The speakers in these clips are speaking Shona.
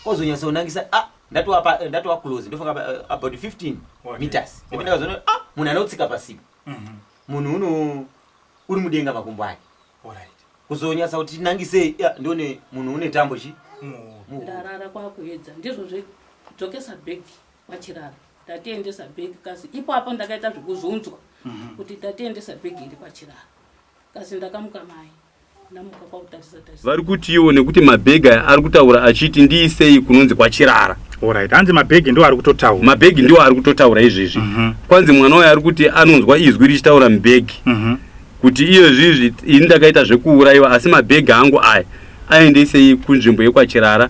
ozonyatsonangisa a ah, ndatova eh, ndatova close ndofunga eh, about 15 meters ndikazona a ah, munhu anotsika pasipo mhm. munhu uno uri mudenga makumbo ake kuzonyatsa kuti tinangisei ndione munhu une tambo chi ndarara kwakuedza ndizvo zvedzokesa bag kwachirara ndatiendesa bag kasi ipo apo ndakaita zvekuzunzwa mhm. kuti ndatiendesa bag iri kwachirara kasi ndakamuka mai vari kutiwo nekuti mabhegi aya ari kutaura achiti ndiisei kunonzi kwachirara Alright. Anzi mabhegi ndiwo ari kutotaura. Mabhegi ndiwo ari kutotaura izvezvi. Mm -hmm. Kwanzi mwana waye ari kuti anonzwa izwi richitaura mubhegi. Mm -hmm. Kuti iyo zvizvi ini ndakaita zvekuurayiwa asi mabhegi angu aya aendesei kunzvimbo yekwachirara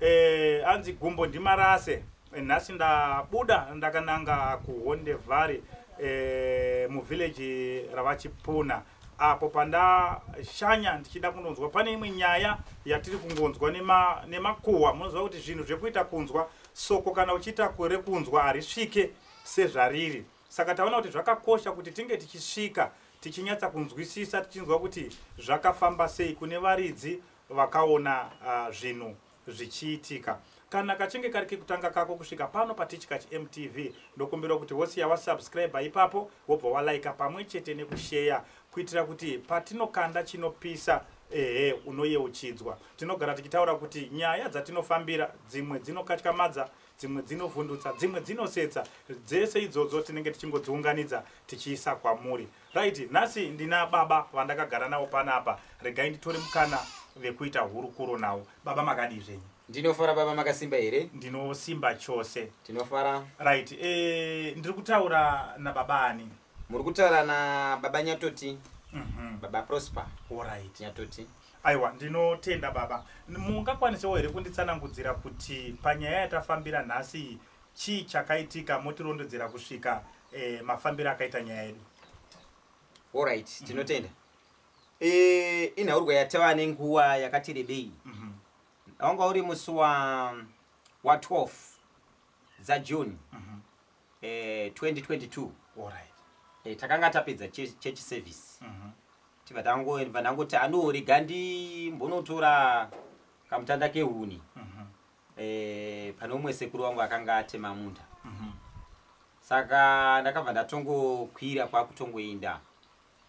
Eh, anzi gumbo ndimarase eh, nhasi ndabuda ndakananga kuhonde vhari eh, muvhileji ravachipuna apo pandashanya ndichida kunonzwa pane imwe nyaya yatiri kungonzwa nemakuhwa nema munoziva kuti zvinhu zvekuita kunzwa soko kana uchiita kure kunzwa harisvike sezvariri saka taona kuti zvakakosha kuti tinge tichisvika tichinyatsa kunzwisisa tichinzwa kuti zvakafamba sei kune varidzi vakaona uh, zvinhu zvichiitika kana kachinge kari kekutanga kako kusvika pano patichika chimtv ndokumbira kuti wosiya wasubscribe ipapo wobva walaika pamwe chete nekusheya kuitira kuti patinokanda chinopisa ehe unoyeuchidzwa tinogara tichitaura kuti nyaya dzatinofambira dzimwe dzinokatyamadza dzimwe dzinovhundutsa dzimwe dzinosetsa dzese idzodzo tinenge tichingodziunganidza tichiisa kwamuri Right, nhasi ndina baba vandakagara navo panapa. Regai nditore mukana vekuita hurukuro navo. Baba makadii zvenyu? Ndinofara baba makasimba here? Ndinosimba chose. Tinofara. Right, eh ndiri kutaura na baba ani? Muri kutaura na baba Nyatoti. Mhm. Mm baba Prosper. All right. Nyatoti. Aiwa, ndinotenda baba. Mungakwanisewo here kunditsanangudzira kuti panyaya yatafambira nhasi Chii chakaitika motirondedzera kusvika eh, mafambiro akaita nyaya yedu? Alright, mhm. tinotenda. Mm -hmm. Eh, inhaurwa yatava nenguva yakati rebei. Mm -hmm. Wanga uri musi wa wa 12 za June. Mm -hmm. eh, 2022. Alright. Eh, takanga tapedza church service. Mm -hmm. Tibva tango ndangoti anorega ndimbonotora kamutanda kehuni. Mm -hmm. eh, pane umwe sekuru wangu akanga atema munda mhm. saka ndakabva ndatongokwira kwakutongoenda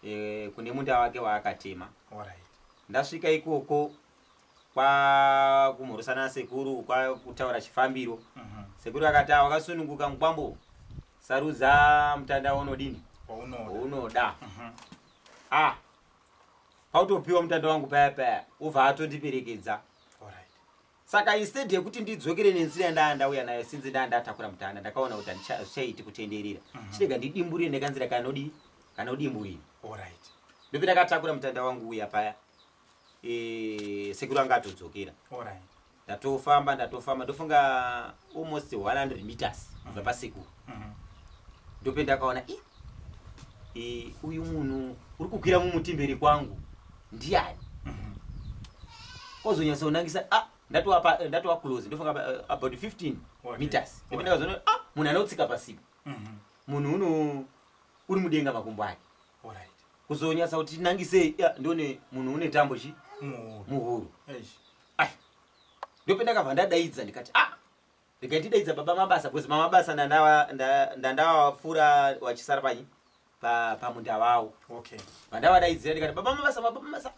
eh, kune munda wake waakatema ndasvika ikoko kwakumhorosana nasekuru kwakutaura chifambiro mhm. sekuru akati wakasununguka mukwambo sarudza mutanda waunodini waunoda mhm. ah pautopiwa mutanda wangu paya paya ubva atondiperekedza saka instead yekuti ndidzokere nenzira yandaa ndauya nayo sinzi ndaa ndatakura mutana ndakaona kuti hazvichaiti kutenderera mhm. chirega ndidimburire nekanzira kanodi kanodimburira orit ndopi ndakatakura mutanda wangu uya paya e, sekuru anga atodzokera orit ndatofamba ndatofamba ndofunga almost 100 meters kubva mhm. pasekuru mhm. ndope ndakaona i Eh, uyu munhu uri kukwira mumuti mberi kwangu ndiani kozonyatsaunangisa ah, ndatova pa- eh, ndatova close ndofunga pa- eh, about 15 Okay. meters Okay. ndipo ndakazoona ah, munhu anotsika pasipo Mhm. munhu uno uri mudenga makumbo ake Alright. kuzonyatsa kuti tinangisei ah, ndione munhu une tambo chi Muhoro. muhuru Eish. ai ndopendakabva ndadaidza ndikati ah regai tidaidza baba mabasa because mamabasa ndandawapfuura wachisara panyi pamunda vavo okay vandavadaidzira ndikati baba mabasa baba mabasa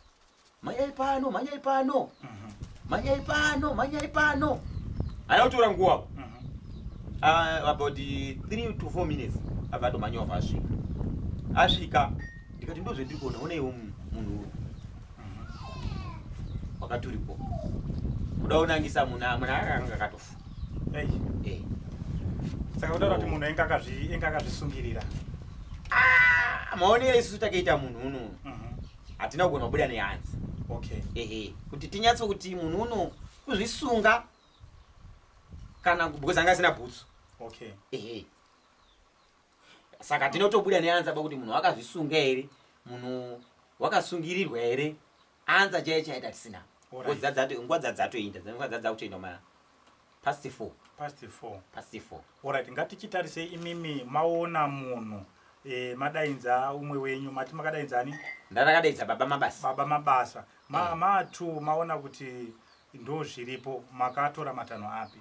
manyai pano manyai pano mhm. manyai pano manyai pano ana kutora nguva mhm. ah, about three to four minutes abva atomanyova asvika asvika ndikati ndozvendiri kuona onaiwo munhu wakati uripo kuda unangisa munhu amuna akanga akatofa eh. saka kutaura kuti munhu ainge akazvisungirira ah, maonere isusu takaita munhu uno mhm. hatina kugona kubuda nehanzi ehe kuti tinyatse kuti munhu uno kuzvisunga kana because anga asina bhutsu ehe saka tinotobuda neanza pakuti munhu wakazvisunga here munhu wakasungirirwa here anza chaiye chaita tisina nguva dzadzatoinda dzanguva dzadza kutoinda ma past four past four past four orit ngatichitarise imimi maona munhu e, madainza umwe wenyu mati makadainza ani ndandakadaidza baba mabasa baba mabasa ma, eh. matu maona kuti ndo zviripo makatora matanho api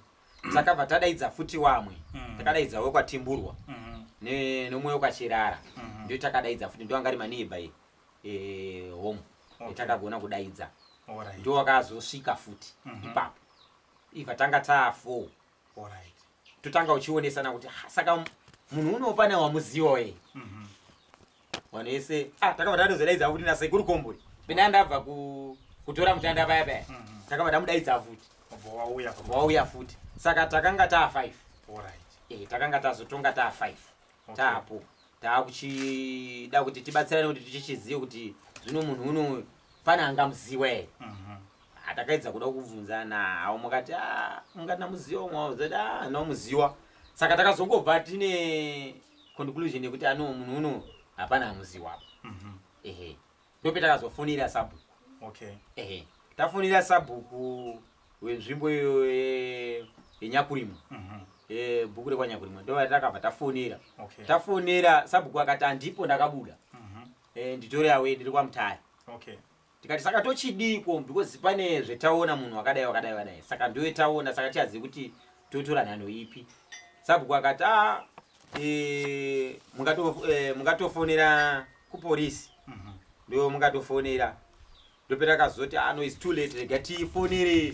takabva tadaidza futi wamwe mm. takadaidza wekwatimburwa mm. nomwe wekwachirara mm. ndio takadaidza futi ndio angari maneiba e, e, home okay. takagona kudaidza right. ndio wakazosvika futi mm -hmm. ipapo iva tanga taa four right. totanga uchionesana kuti saka munhu unopana wamuziwa e mm -hmm. vanhu vese ah, takabva tatozodaidza futi nasekuru komburi pena ndabva kutora mutanda paya paya mhm. takabva tamudaidza futi vauya futi saka takanga taa five eh, takanga tazotonga taa five taapo taakuchida kuti tibatsirane kuti tichichizive kuti zvino munhu uno pane angamuziwa here mhm. ah, takaedza kuda kubvunza nawo mukati ah, ungati namuziwa mwaozoda ah, namuziwa saka takazongobva tine conclusion yekuti ano munhu uno hapana amuziwa apa mhm. ehe ndope takazofonera sabhuku okay ehe tafonera sabhuku wenzvimbo iyo yenyakurimo mhm. e, bhuku rekwanyakurimo ndova takabva tafonera tafonera sabhuku akati handipo ndakabuda mhm. e, nditore awe ndiri kwamutaya okay tikati saka tochidiiko because pane zvetaona munhu wakadai wakadai wadayi saka ndoetaona saka tichazivi kuti totora nhanho ipi sabhuku akati a e, e, mungatofonera kuporisi mhm. ndo mungatofonera ndopera kazoti ano ah, is too late rega tifonere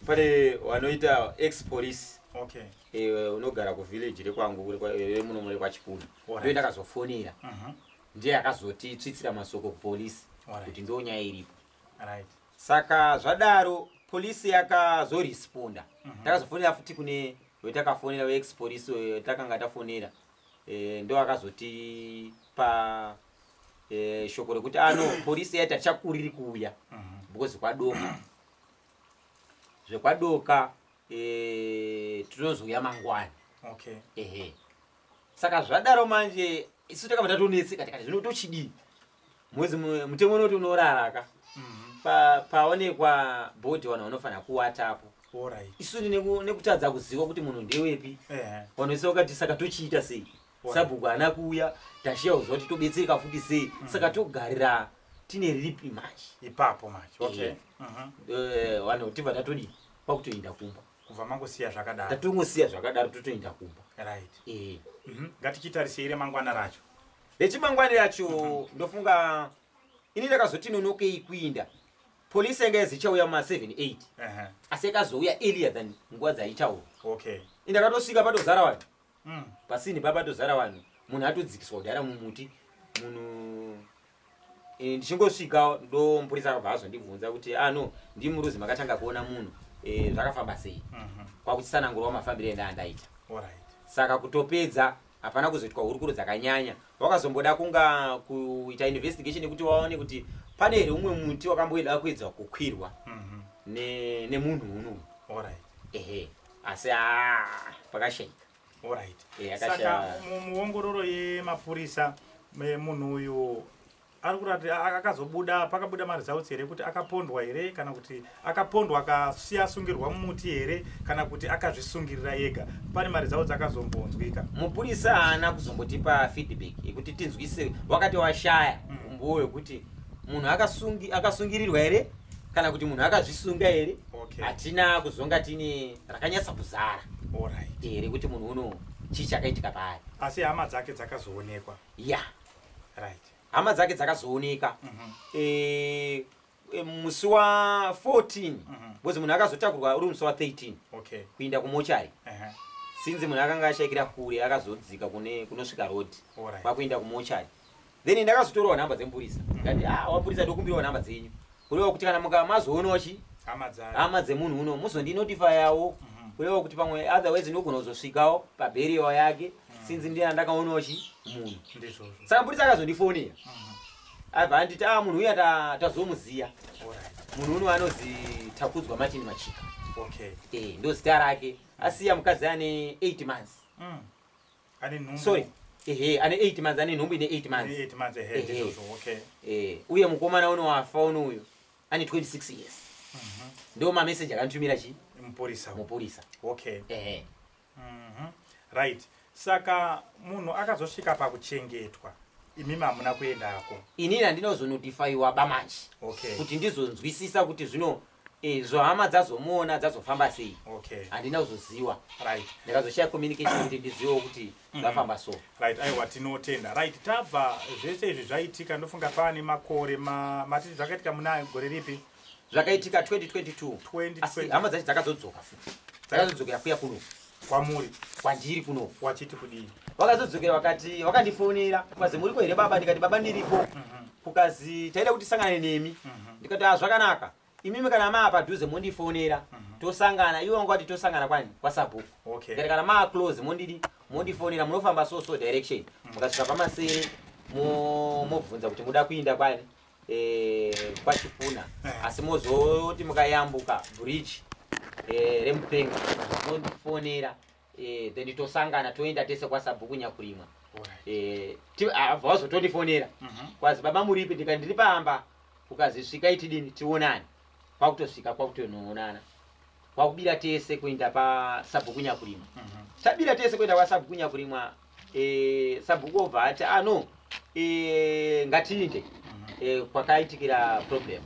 pane wanoita ex police okay. e, unogara kuvillage rekwangu remunomo rekwachipuna ndo ndakazofonera uh mhm. -huh ndiye akazoti tsvitsira masoko kupolice kuti ndo nyaya iripo saka zvadaro police yakazoresponda mhm. takazofonera futi kune wetakafonera wex police wetakanga tafonera eh, ndo akazoti pa eh, shoko rekuti ano ah, police yaita tichakuriri kuuya mhm. because kwadoka zvekwadoka Eh, tinozouya mangwana okay ehe saka zvadaro manje isu takabva tatonetseka tikati zvino tochidii mwezi mu- mutemo unoti unorara ka Mhm. Pa- paonekwa bhodhi vanhu vanofanira kuwatapo Alright. isu neku- nekutadza kuziva kuti munhu ndewepi Ehe. vanoisa vakati saka tochiita sei Why? sabhuku haana kuuya tashiya kuziva kuti tobetsereka futi sei saka togarira tine ripi manje ipapo manje okay Eh. Mhm. Eh, vanhu tibva tatodii kwakutoenda kumba kubva mangosiya zvakadaro tatongosiya zvakadaro totoenda kumba right eh mm -hmm. ngatichitarisei remangwana racho rechimangwani racho mm -hmm. ndofunga ini ndakazoti nonokei kuinda polisi yanga yazi ichauya ma 7 8 uh -huh. asi yakazouya earlier than nguva dzaichaura okay ini ndakatosvika patozara vanhu mm. pasini pa patozara vanhu munhu atodzikiswa kudhara mumuti munhu e, ndichingosvika ndomupurisa akabva azondibvunza kuti ano ah, ndimuruzi makatanga kuona munhu e, zvakafamba sei mm -hmm. kwakuchisanangurwa mafambiro enda andaita right. saka kutopedza hapana kuzoitwa hurukuro dzakanyanya wakazomboda kunga kuita investigation yekuti waone kuti pane here umwe muti wakamboida kuedza kukwirwa mhm. nemunhu unoyu ehe asi a pakashaika Alright. Eh, Saka muongororo yemapurisa munhu uyu ari kurati akazobuda pakabuda maresults here kuti akapondwa here kana kuti akapondwa akasiya asungirwa mumuti here kana kuti akazvisungirira yega pane maresults akazombonzwika mupurisa haana kuzombotipa feedback yekuti tinzwise wakati washaya mm. umbowo wekuti munhu akasungirirwa here kana kuti munhu akazvisunga here hatina kuzonga tine rakanyatsa kuzara Alright. eh, rekuti munhu uno chii chakaitika paari Asi hama dzake dzakazoonekwa. ya Right. hama dzake dzakazooneka Mhm. eh, eh, musi wa 14 Mhm. because munhu akazotakurwa uri musi wa 13 Okay. kuinda kumochari Uh-huh. sinzi munhu akanga ashaikira kure akazodzika kune kunosvika road Alright. kwakuenda kumochari then ndakazotorawo nhamba dzemupurisa ndikati ah wapurisa ndokumbirawo nhamba dzenyu kureva kuti kana mukamazoonawo chi hama dzayo hama dzemunhu uno muzondinotifayawo Mhm. kureva kuti pamwe otherwise ndogona kuzosvikawo pabheriyo yake sinzi ndiye andakaonawo chi munhu ndizvozvo saka mupurisa akazondifonera Mhm. abva anditi ah munhu uya ta- tazomuziya Alright. munhu uno anozi takudzwa martin machika okay Eh, ndozita rake asiya mukadzi ane 8 months Mm. ane nhumbu sorry ehe ane 8 months ane nhumbu ine 8 months ane 8 months ehe ehe so okay eh uye mukomana uno wafa uno uyo ane 26 years mhm ndio ma message akantumira chi muporisa muporisa okay ehe mhm right saka munhu akazosvika pakuchengetwa imi mamuna kuendako inini handinozonotifaiwa bamanje okay kuti ndizonzwisisa kuti zvino Eh, zvohama dzazomuona dzazofamba sei okay handina kuzoziwa right ndikazoshaya communication kuti ndiziwewo kuti mm-hmm. zvafamba so right aiwa tinotenda right tabva zvese izvi zvaitika ndofunga paane makore matiti zvakaitika muna gore ripi zvakaitika 2022 hama dzacho dzakazodzoka futi dzakazodzoka yakuya kuno kwamuri kwandiri kuno wachiti kudii vakazodzokera vakati vakandifonera kukazi muriko here baba ndikati baba ndiriko mhm. kukazi taida kuti sangane nemi mhm. ndikati hazvakanaka ah, imimi kana maa padhuze mondifonera mhm. tosangana ivo vanga vati tosangana kwani kwasabhuku okay. ngati kana maa close mondidi mondifonera munofamba so so direction mukasvika pamasere mobvunza kuti muda kuinda kwani eh, kwachipuna eh. asi mozoti mukayambuka bridge eh, remupenga mondifonera then titosangana toenda tese kwasabhuku nyakurimwa vazotondifonera mhm. kwazi baba muripi ndikati ndiri pamba ukazisvika itidini tionani kwakutosvika kwakutonongonana kwakubira tese kuenda pasabhuku nyakurimwa mhm. tabira tese kuenda kwasabhuku nyakurimwa eh, sabhuku obva ati ano ah, eh, ngatiinde mhm. eh, kwakaitikira problem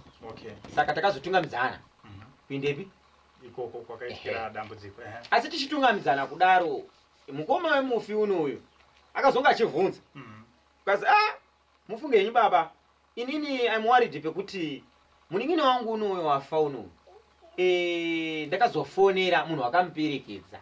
saka takazotungamidzana mhm. kuindepi ikoko kwakaitikira dambudziko asi tichitungamidzana kudaro mukoma wemufi uno uyu akazonga achivhunza kazi a ah, Mufunge henyu baba. Inini I'm worried pekuti munin'ina wangu unowe wafa unowe. Eh, ndakazofonera munhu wakamuperekedza.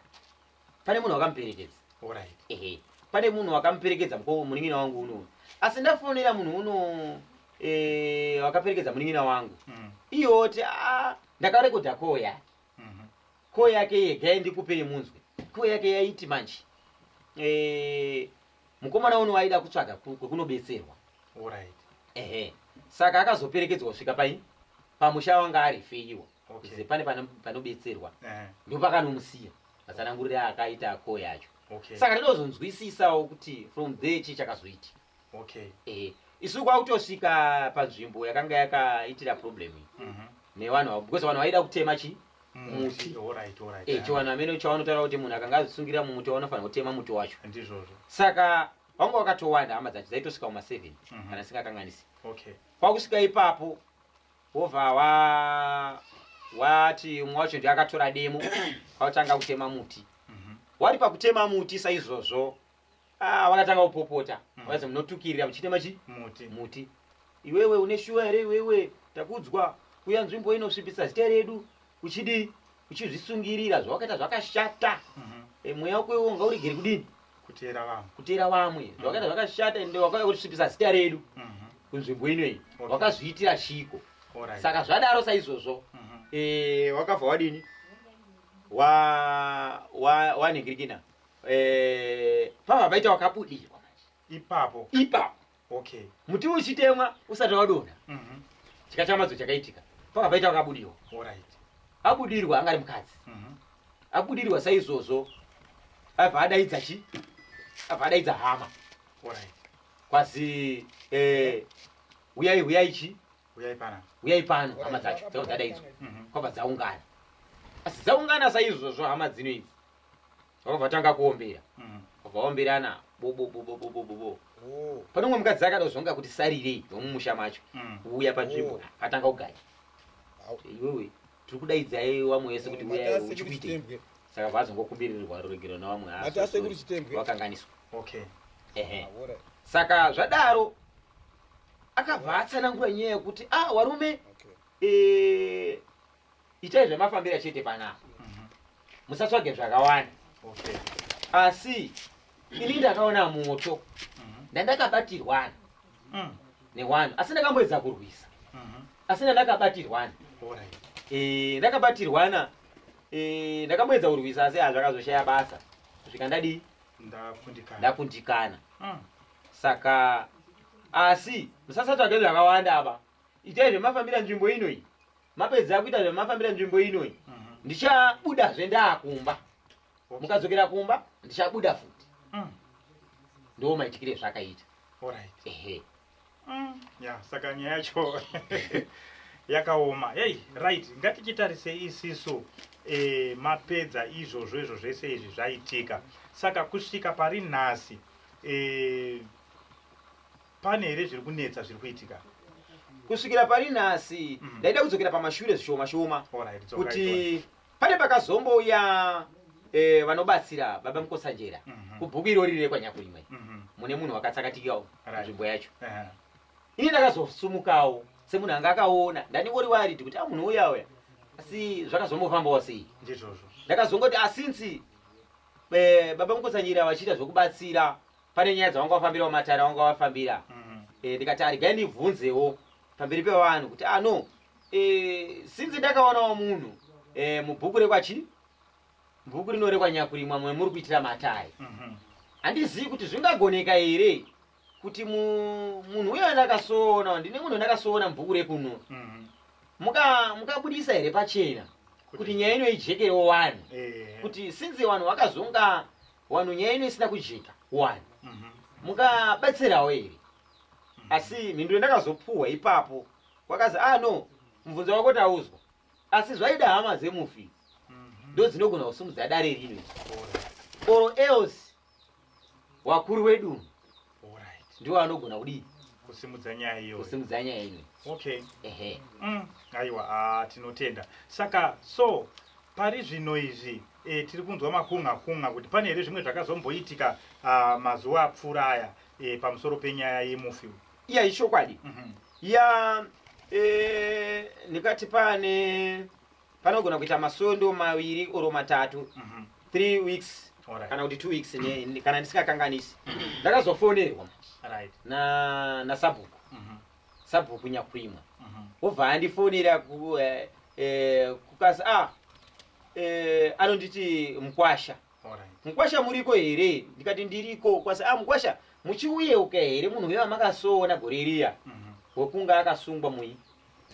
Pane munhu wakamuperekedza. Alright. Ehe. Pane munhu wakamuperekedza mko munin'ina wangu unowe. Asi ndafonera munhu uno eh wakaperekedza munin'ina wangu. Mm. Iyo oti ah ndakarekodha call yake. Mhm. Call yake yega ndikupe yemunzwe. Call yake yaiti manje. Eh mukomana uno waida kutsvaga kwekunobetserwa right. ehe saka akazoperekedzwa kusvika pai pamusha wanga ari feiwa okay. ze pane panobetserwa uh -huh. ndopakanomusiya matsanangurire akaita ako yacho okay. saka tinozonzwisisawo kuti from there chii chakazoiti okay. ehe isu kwakutosvika panzvimbo yakanga yakaitira problem mm -hmm. nevanhu avo because vanhu vaida kutema chii muti eh, chiwanhu amene chawanotaura kuti munhu akanga azvisungira mumuti waunofanira kutema muti wacho ndizvozvo saka vanga wakatowanda hama dzacho dzaitosvika kuma seven mhm. kana singakanganisi kwakusvika ipapo wobva wa wati umwe wacho ndi akatora demo kwautanga kutema muti mhm. wari pakutema muti saizvozvo Ah, vakatanga kupopota Mm. vakati munotukirira muchiita machi muti muti iwewe une shuwa here iwewe takudzwa kuya nzvimbo inosvipisa zita redu uchidii uchizvisungirira zvawakaita zvakashata Mhm. Eh, mweya wako iwe unga uregere kudini kuteera vanhu kuteera vamwe zvawakaita zvakashata ende wakauya kutisvipisa zita redu Mhm. kunzvimbo ino iyi Okay. wakazviitira chiko Alright. saka zvadaro saizvozvo Mhm. eh, wakabva wadini Wa- wa- wanhingirikina eh, pava paita wakabudirwa ipapo ipapo okay muti uchitemwa usati wadonha mm -hmm. chikatamadzo chakaitika pava paita wakabudirwa right. abudirwa angari mukadzi mm -hmm. abudirwa saizvozvo abva adaidza chi abva adaidza hama right. kwazi eh, uyai uyai chi uyai pano uyai pano hama dzacho dzakabva dzadaidzwa mm -hmm. kwabva dzaungana asi dzaungana saizvozvo hama dzino idzi vavatanga kuombera mm. vaomberana bobobobobobobo oh. pane umwe mukadzi akada kuzonga kuti sarirei nomumusha macho mm. uya panzvimbo oh. atanga kugaya iwewe tiri kudaidzai wamwe wese kuti uya uchikuite saka vazongokumbirirwa ruregero nawamwe vakanganiswa saka zvadaro akabva atsanangura nyaya yekuti a ah, warume eh, itai zvemafambira chete panapa mhm. musatsvage zvakawanda asi ini ndakaona moto mhm. ndandakabatirwana mm. newanhu asi ndakamboedza kurwisa mhm. asi ndandakabatirwana eh, ndakabatirwana eh, ndakamboedza kurwisa asi hazvakazoshaya basa kusvika ndadii ndakundikana mm. saka asi musasatsvage zvakawanda apa itai zvemafambira nzvimbo inoyi mapedza kuita zvamafambira nzvimbo ino iyi Mhm. ndichabudazve ndaakumba Okay. mukadzokera kumba ndichabuda futi Mm. ndo maitikire zvakaita Alright. ehe Mm, ya saka nyaya yacho yakaoma hey right ngatichitarise isisu e, mapedza izvozvo izvo zvese izvi zvaitika saka kusvika pari nhasi e, pane here zviri kunetsa zviri kuitika kusvikira pari nhasi mm. ndaida kudzokera pamashure zvishoma shoma kuti pane pakazombouya eh, vanobatsira baba mukotsanjera mhm. kubhuku irori rire kwanyakurimwe mhm. mune munhu wakatsakatikawo nzvimbo yacho ini ndakazosumukawo semunhu anga akaona ndandingori waridi kuti a ah, munhu uya uya asi zvakazombofambawo sei ndakazongoti asinsi ah, eh, baba mukotsanjera vachiita zvokubatsira pane nyaya dzawanga wafambira wamatare awanga wafambira mm. eh, ndikati arigai ndibvunzewo pamberi pevanhu kuti ano ah, eh, sinzi ndakaonawo munhu eh, mubhuku rekwachi bhuku rino rekwanyakurimwa mwe muri kuitira matare mhm. handizivi kuti zvingagoneka here kuti munhu uyo ndakasoona ndine munhu ndakasoona mubhuku rekuno mhm. mukabudisa here pachena kuti nyaya ino ijekerewo wani kuti sinzi vanhu vakazonga wanhu nyaya ino isina kujeka wani mhm. mukabatsirawo here mhm. asi mhinduro ndakazopuhwa ipapo kwakazi a ah, no mubvunzo wako tauzwa asi zvaida hama dzemufi mhm. ndo dzinogona kusumudza dare rino or else wakuru wedunhu ndiwo anogona kudii kusimudza nyaya iyo kusimudza nyaya iyo okay ehe mm, aiwa ah, tinotenda saka so pari zvino izvi e, tiri kunzwa makunha kunha kuti pane here zvimwe zvakazomboitika ah, mazuva apfuura aya e, pamusoro penyaya yemufi iya ichokwadi mm -hmm. ya e, ndikati pane panogona kuita masondo maviri oro matatu mhm. three weeks kana kuti two weeks kana ndisingakanganisi mhm. ndakazofonerwa nasabhuku mhm. sabhuku nyakuimwa obva andifonera eh, eh, kukasi a ah, eh, anonditi mukwasha mukwasha muriko here ndikati ndiriko kwasi a ah, mukwasha muchiuyeuka here munhu wevamakasoona gore riya wekunga akasungwa mui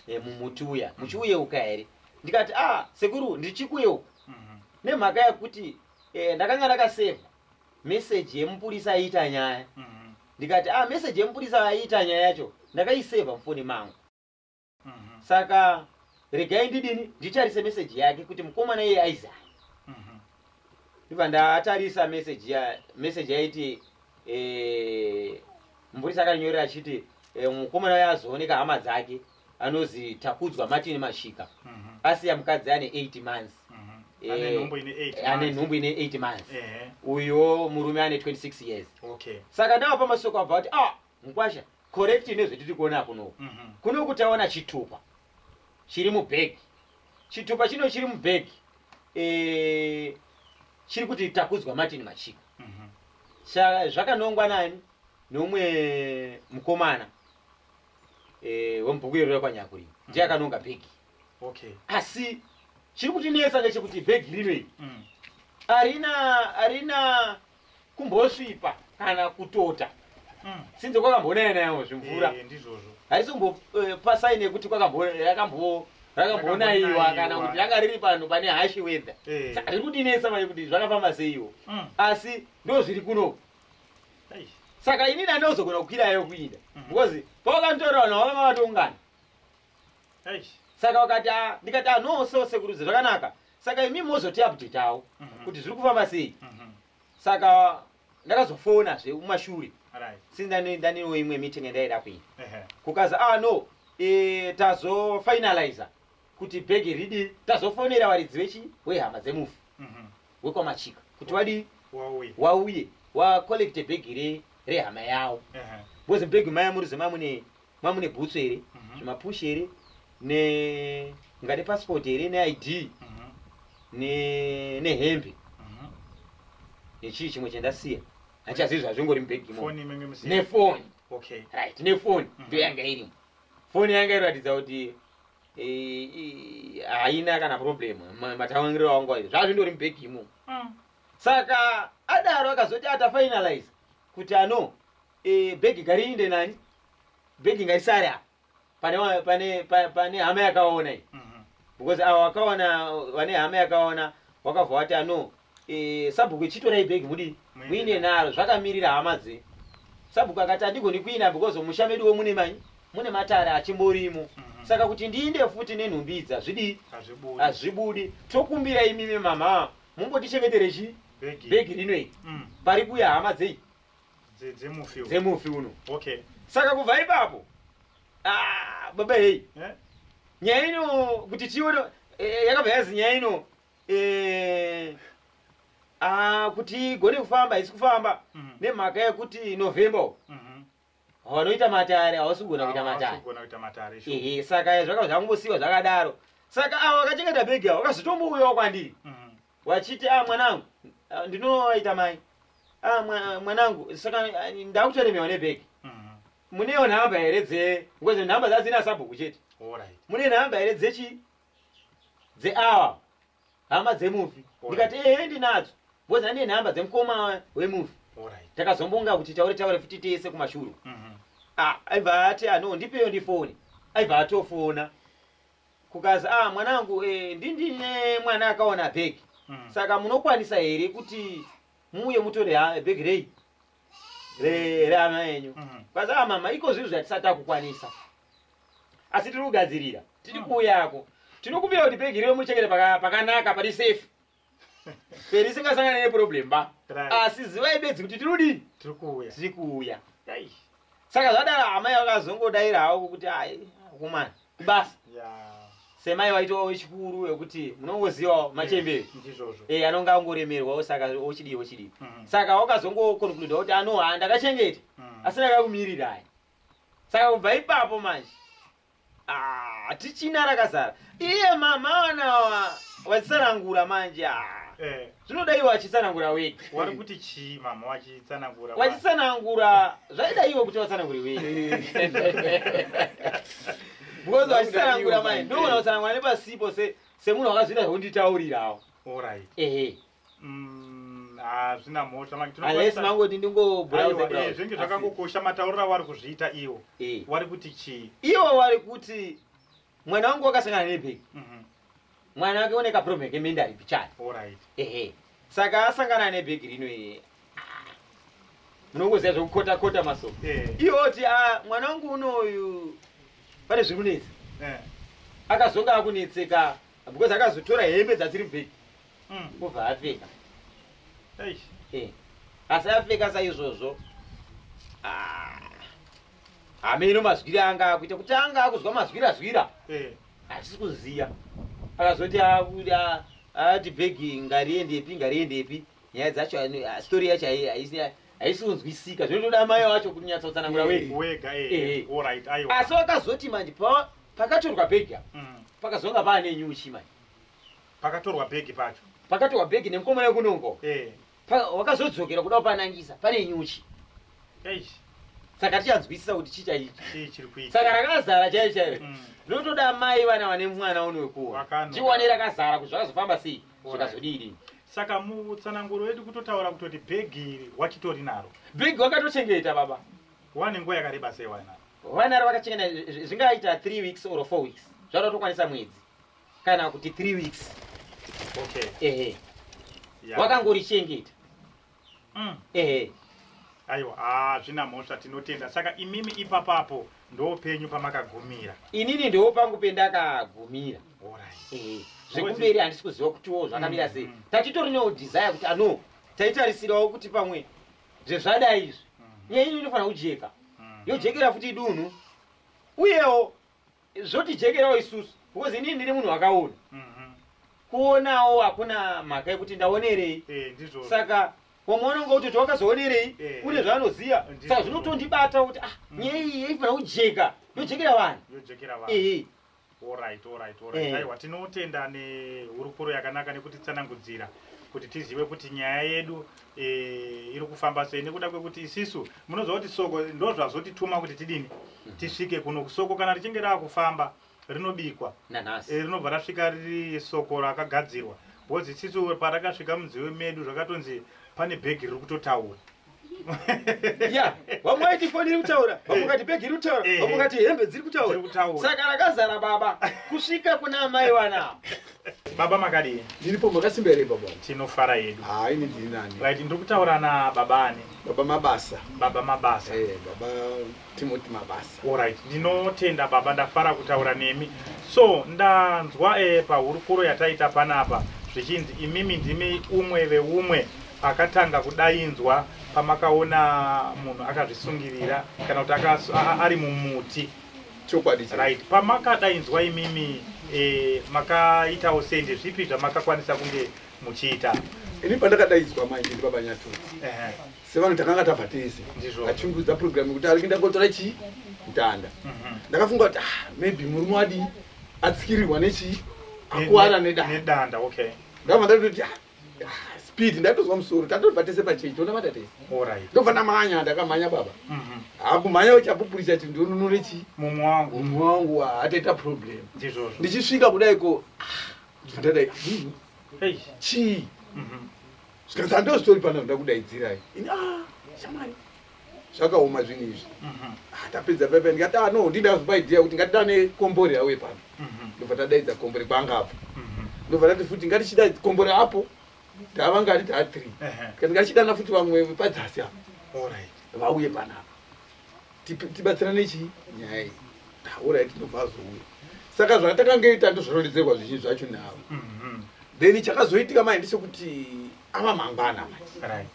eh, mumuti uya muchiuyeuka here ndikati ah sekuru ndichikuyeuka Mhm. nemhaka yekuti eh, ndakanga ndakaseva meseji yemupurisa aiita nyaya Mhm. ndikati ah meseji yemupurisa aiita nyaya yacho ndakaiseva mufoni mangu Mhm. saka regai ndidini nditarise meseji yake kuti mukomana iye aizai Mhm. ndibva ndatarisa meseji ya meseji yaiti Eh, mupurisa akanyorera achiti eh, mukomana uya azooneka hama dzake anozi takudzwa martin mashika Mhm. asiya mukadzi ane 8 months Mhm. Eh, Ane nhumbu ine eight ane months. nhumbu ine 8 months Ehe. uyo murume ane 26 years Okay. saka nawo pamasoko abva kuti ah mukwasha correct nezvetiri kuona kuno Mhm. kuno kutaona chitupa chiri mubhegi chitupa chino chiri mubhegi eh, chiri kuti takudzwa martin machiko mhm. zvakanongwa nani neumwe mukomana eh, wemubhuku iro rekwanyakurima mhm. ndiye akanonga bhegi asi chiri kutinetsa ngechekuti bhegi rino iri mm. arina arina kumbosvipa kana kutota mm. sinze kwakambonaya nayo zvimvura eh, ndizvozvo haisi kumbopasaini eh, yekuti kwakamboyakambo rakambonaiwa kana kuti ranga riri panhu pane hashi wedha eh. riri kutinetsa manje kuti zvakafamba seiwo mm. asi ndo zviri kunoku saka inini andozogona kukwirayo kuinda mm. because pawakantorawo navo vanga vatongana saka wakati ah, ndikati ah, no so sekuruzi zvakanaka saka imi mozotiabdetawo Mhm. kuti zviri kufamba sei Mhm. saka ndakazofona zve mumashure Right. since ndane- ndanewo imwe meeting yandaida kuita Ehe. kukazi ah no eh, tazofinaliza kuti bhegi ridi tazofonera varidzi vechi wehama dzemufi Mhm. wekwamachika kuti vadii Wauye. wauye wacollecte bhegi re- rehama yawo Ehe. because bhegi maya muriziva mune ma mune bhutsu here mhm. zvimapush here ne mungade passport here neid mhm. nehembe mhm. nechii chimwe chandasiya handichazivi zvazvingori mubhegi nefoni right nefoni ndoyanga irimo foni yanga iratidza kuti haina kana problem matawangiro awangu aizvo zvazvindori mubhegi imo mm. saka adaro akazoti atafinalize kuti ano Eh, bhegi ngariinde nani bhegi ngarisare apa pane wa- pane pa- pane hama yakaona iyi Mhm. because avo wakaona vane hama yakaona wakabva wati ano eh, sabhuku chitorai bhegi mudii Muine muine naro zvakamirira hama dze sabhuku akati handigoni kuina because musha meduwo mune manyi mune matare achimborimo Mhm. saka kuti ndiinde futi nenhumbi idzi hazvidii Hazvibudi. hazvibudi tokumbira imimi mama mumbotichengetere chi Bhegi. bhegi rino iri Mm. pari kuya hama dzei Dze- dzemufi uyu. dzemufi uno okay saka kubva ipapo ah, baba heyi Eh? nyaya ino kuti tione eh, yakabva yazi nyaya ino eh, ah, kuti igone kufamba haisi kufamba Mhm. nemhaka yekuti november uko, Mhm. vanoita matare havasi kugona kuita Hawa- matare hawasigona kuita matare sure. ehe saka zvakabva zvangosiwa zvakadaro saka avo vakachengeta bhegi avo vakazotombouyawo kwandiri Mhm. wachiti a ah, mwanangu ah, ndinoita mai a ah, mwanangu saka ndakutoremewa nebhegi mhm. munewo nhamba here dze because nhamba dzadzina sabhuku chete mune nhamba here dzechi dzeawa hama dzemufi ndikati ehe ndinadzo because ndine nhamba dzemukoma wemufi takazombonga kuti taure taure futi tese kumashuru mhm. aibva ati ano ndipeyo ndifoni aibva atofona kukazi ah mwanangu eh, ndindine mwana akawana bhegi Mm. saka munokwanisa here kuti muuye mutore ha- bhegi rei re- reana enyu Mm. kwazi ah mama iko zvinhu zvatisati takukwanisa asi tiri kugadzirira tiri Mm. kuuyako tinokumbira kuti bhegi reo muchengete paka- pakanaka pari safe peri isingasangane neproblem ba Right. asi zivai bedzi kuti tiri kudii tiri kuuya tiri kuuya Eish. saka zvadaro amai vakazongodaira havo kuti ai kumana basa Yeah. semai waitowa wechikuru wekuti munongozivawo machembere ndizvozvo Eh, anonga angoremerwawo saka ochidii ochidii Mhm. saka wakazongokonkluda kuti anoha ndakachengeta Mhm. asi ndakakumirira aya saka kubva ipapo manje Ah, tichina rakazara iye mama wana wazisarangura manje ah. Eh. zvinoda iwe wachitsanangura wega wari kuti chii mama wachitsanangura wachitsanangura zvaida iwe kuti watsanangure wega because wachitsanangura mai ndoona kutsanangura nepasipo semunhu wakazvita zvekunditaurirawo ehe Mm, hazvina ah, mhosva unless mangoti ndingobrowse zvinge zvakangokosha mataurira wari kuzviita iwo eh. wari kuti chii iwo wari kuti mwana wangu wakasangana nebheki mhm. mwana wake une kaproblem kemende ari pichani ehe saka asangana nebheki rino iye munongoziva zvekukota kota maso eh. iwo kuti ah, mwana wangu unoyu pane zviri kunetsa eh. akazonga akunetseka because akazotora hembe dzasiri bheki mm. obva apfeka eh. asi apfeka saizvozvo ah. hameno mazwiri anga akuita kuti anga akuzwa mazwira zwira eh. hatisi kuziva akazoti ati bhegi ngariendepi ngariendepi nyaya dzacho stori yacho haisi kunzwisika zvinotoda mai wacho kunyatsotsanangura wega eh, asi wakazoti manje pakatorwa bhegi apa mm. pakazonga paane nyuchi manje pakatorwa bhegi pacho pakatorwa bhegi nemukomana wekunongo eh. wakazodzokera kuda kupanangisa pane nyuchi saka tichanzwisisa kuti chi chaichi saka rakazara chai chaio mm. ndotoda mai vana vane mwana uno wekuwa chiwane rakazara kuti zvakazofamba sei zvikazodii saka mutsananguro wedu kutotaura kutoti bhegi iri wachitori naro bhegi wakatochengeta baba wane nguva yakareba sei wanaro vanaro vakachengeta zvingaita three weeks or four weeks zvadatokwanisa mwedzi kana kuti three weeks okay. ehe yeah. wakangorichengeta mm. ehe aiwa hazvina ah, mhosva tinotenda saka imimi ipapapo ndoopenyu pamakagumira inini ndiwo pangu pendakagumira right. zvekumberi handisi kuziva kutiwo zvakamira sei mm. tatitori newo desire kuti ano ah, taitarisirawo kuti pamwe zvezvadai izvi mm. nyaya ino inofanira kujeka mm. yojekera futi dunhu uyewo zvotijekerawo isusu because inini ndiri munhu wakaona Mhm. kuonawo hakuna mhaka yekuti ndaonerei Eh, ndizvo. saka wamwe unonge kuti kuti wakazoonerei Eh. une zvaanoziva Ndizvo. saka zvinotondibata kuti ah Mm. nyaya iyi yaifana kujeka yojekera vanhu Yojekera vanhu. ehe Alright, alright, alright. Eh. Aiwa tinotenda nehurukuro yakanaka nekutitsanangudzira kuti tizive kuti nyaya yedu eh, iri kufamba sei nekuda kwekuti isisu munoziva kuti soko ndo zvazotituma kuti tidini mhm. tisvike kuno soko kana richinge raakufamba rinobikwa eh, rinobva rasvika riri soko rakagadzirwa bhozi isisu parakasvika munziwe medu zvakatonzi pane bhegi riri kutotaura ya vamwe vaiti foni iri kutaura vamwe eh. vati bhegi iri kutaura eh. vamwe vati hembe dziri kutaura saka rakazara baba kusvika kuna amai wana baba makadii ndiripo makasimba here baba tinofara yedu ha ini ndiri nani right ndiri kutaura na baba ani baba mabasa baba mabasa hey, eh, baba timoti mabasa allright ndinotenda baba ndafara kutaura nemi so ndanzwa e pahurukuro yataita panapa zvichinzi imimi ndimi umwe veumwe akatanga kudainzwa pamakaona munhu akazvisungirira kana kuti ari mumuti chokwadi right pamakadainzwa imimi eh, makaitawo sei ndezvipi zvamakakwanisa kunge muchiita ini pandakadaidzwa manje ndibaba nyatu sevanhu takanga tabva tese achungudza program yekuti ari kuinda kotora chii mutanda mhm. ndakafunga kuti ah, maybe murume wadi atsikirirwa nechii akuwara nedanda ndakabva ndatoti ah, speed ndatozwa musoro tatobva tese pachechi tonamata tese ndobva ndamhanya ndakamhanya baba mhm. hakumhanya uchapupurisa ti ndonunure chii mumwe wangu mumwe wangu hataita problem ndichisvika kudai ko ndadai chii zvikanzi handozvitori pano nda kudaidzirai ah, shamwari zvakaoma zvinhu izvi mhm. ah, tapedza pepe ndikati ah, no ndida kupa idea kuti ngatitane kombore yawe pano mhm. ndobva tadaidza kombore kwanga apo mhm. ndobva tati futi ngatichida kombore apo tava ngati taa three kati ngatichidana futi vamwe vepadzasi apo vauye panapa tibatsirane chii nyaya iyi orit ah, ndobva azouya saka zvatakange tatozvirondedzerwa zvizhinji zvacho navo then chakazoitika mai ndechekuti ava mangwana mai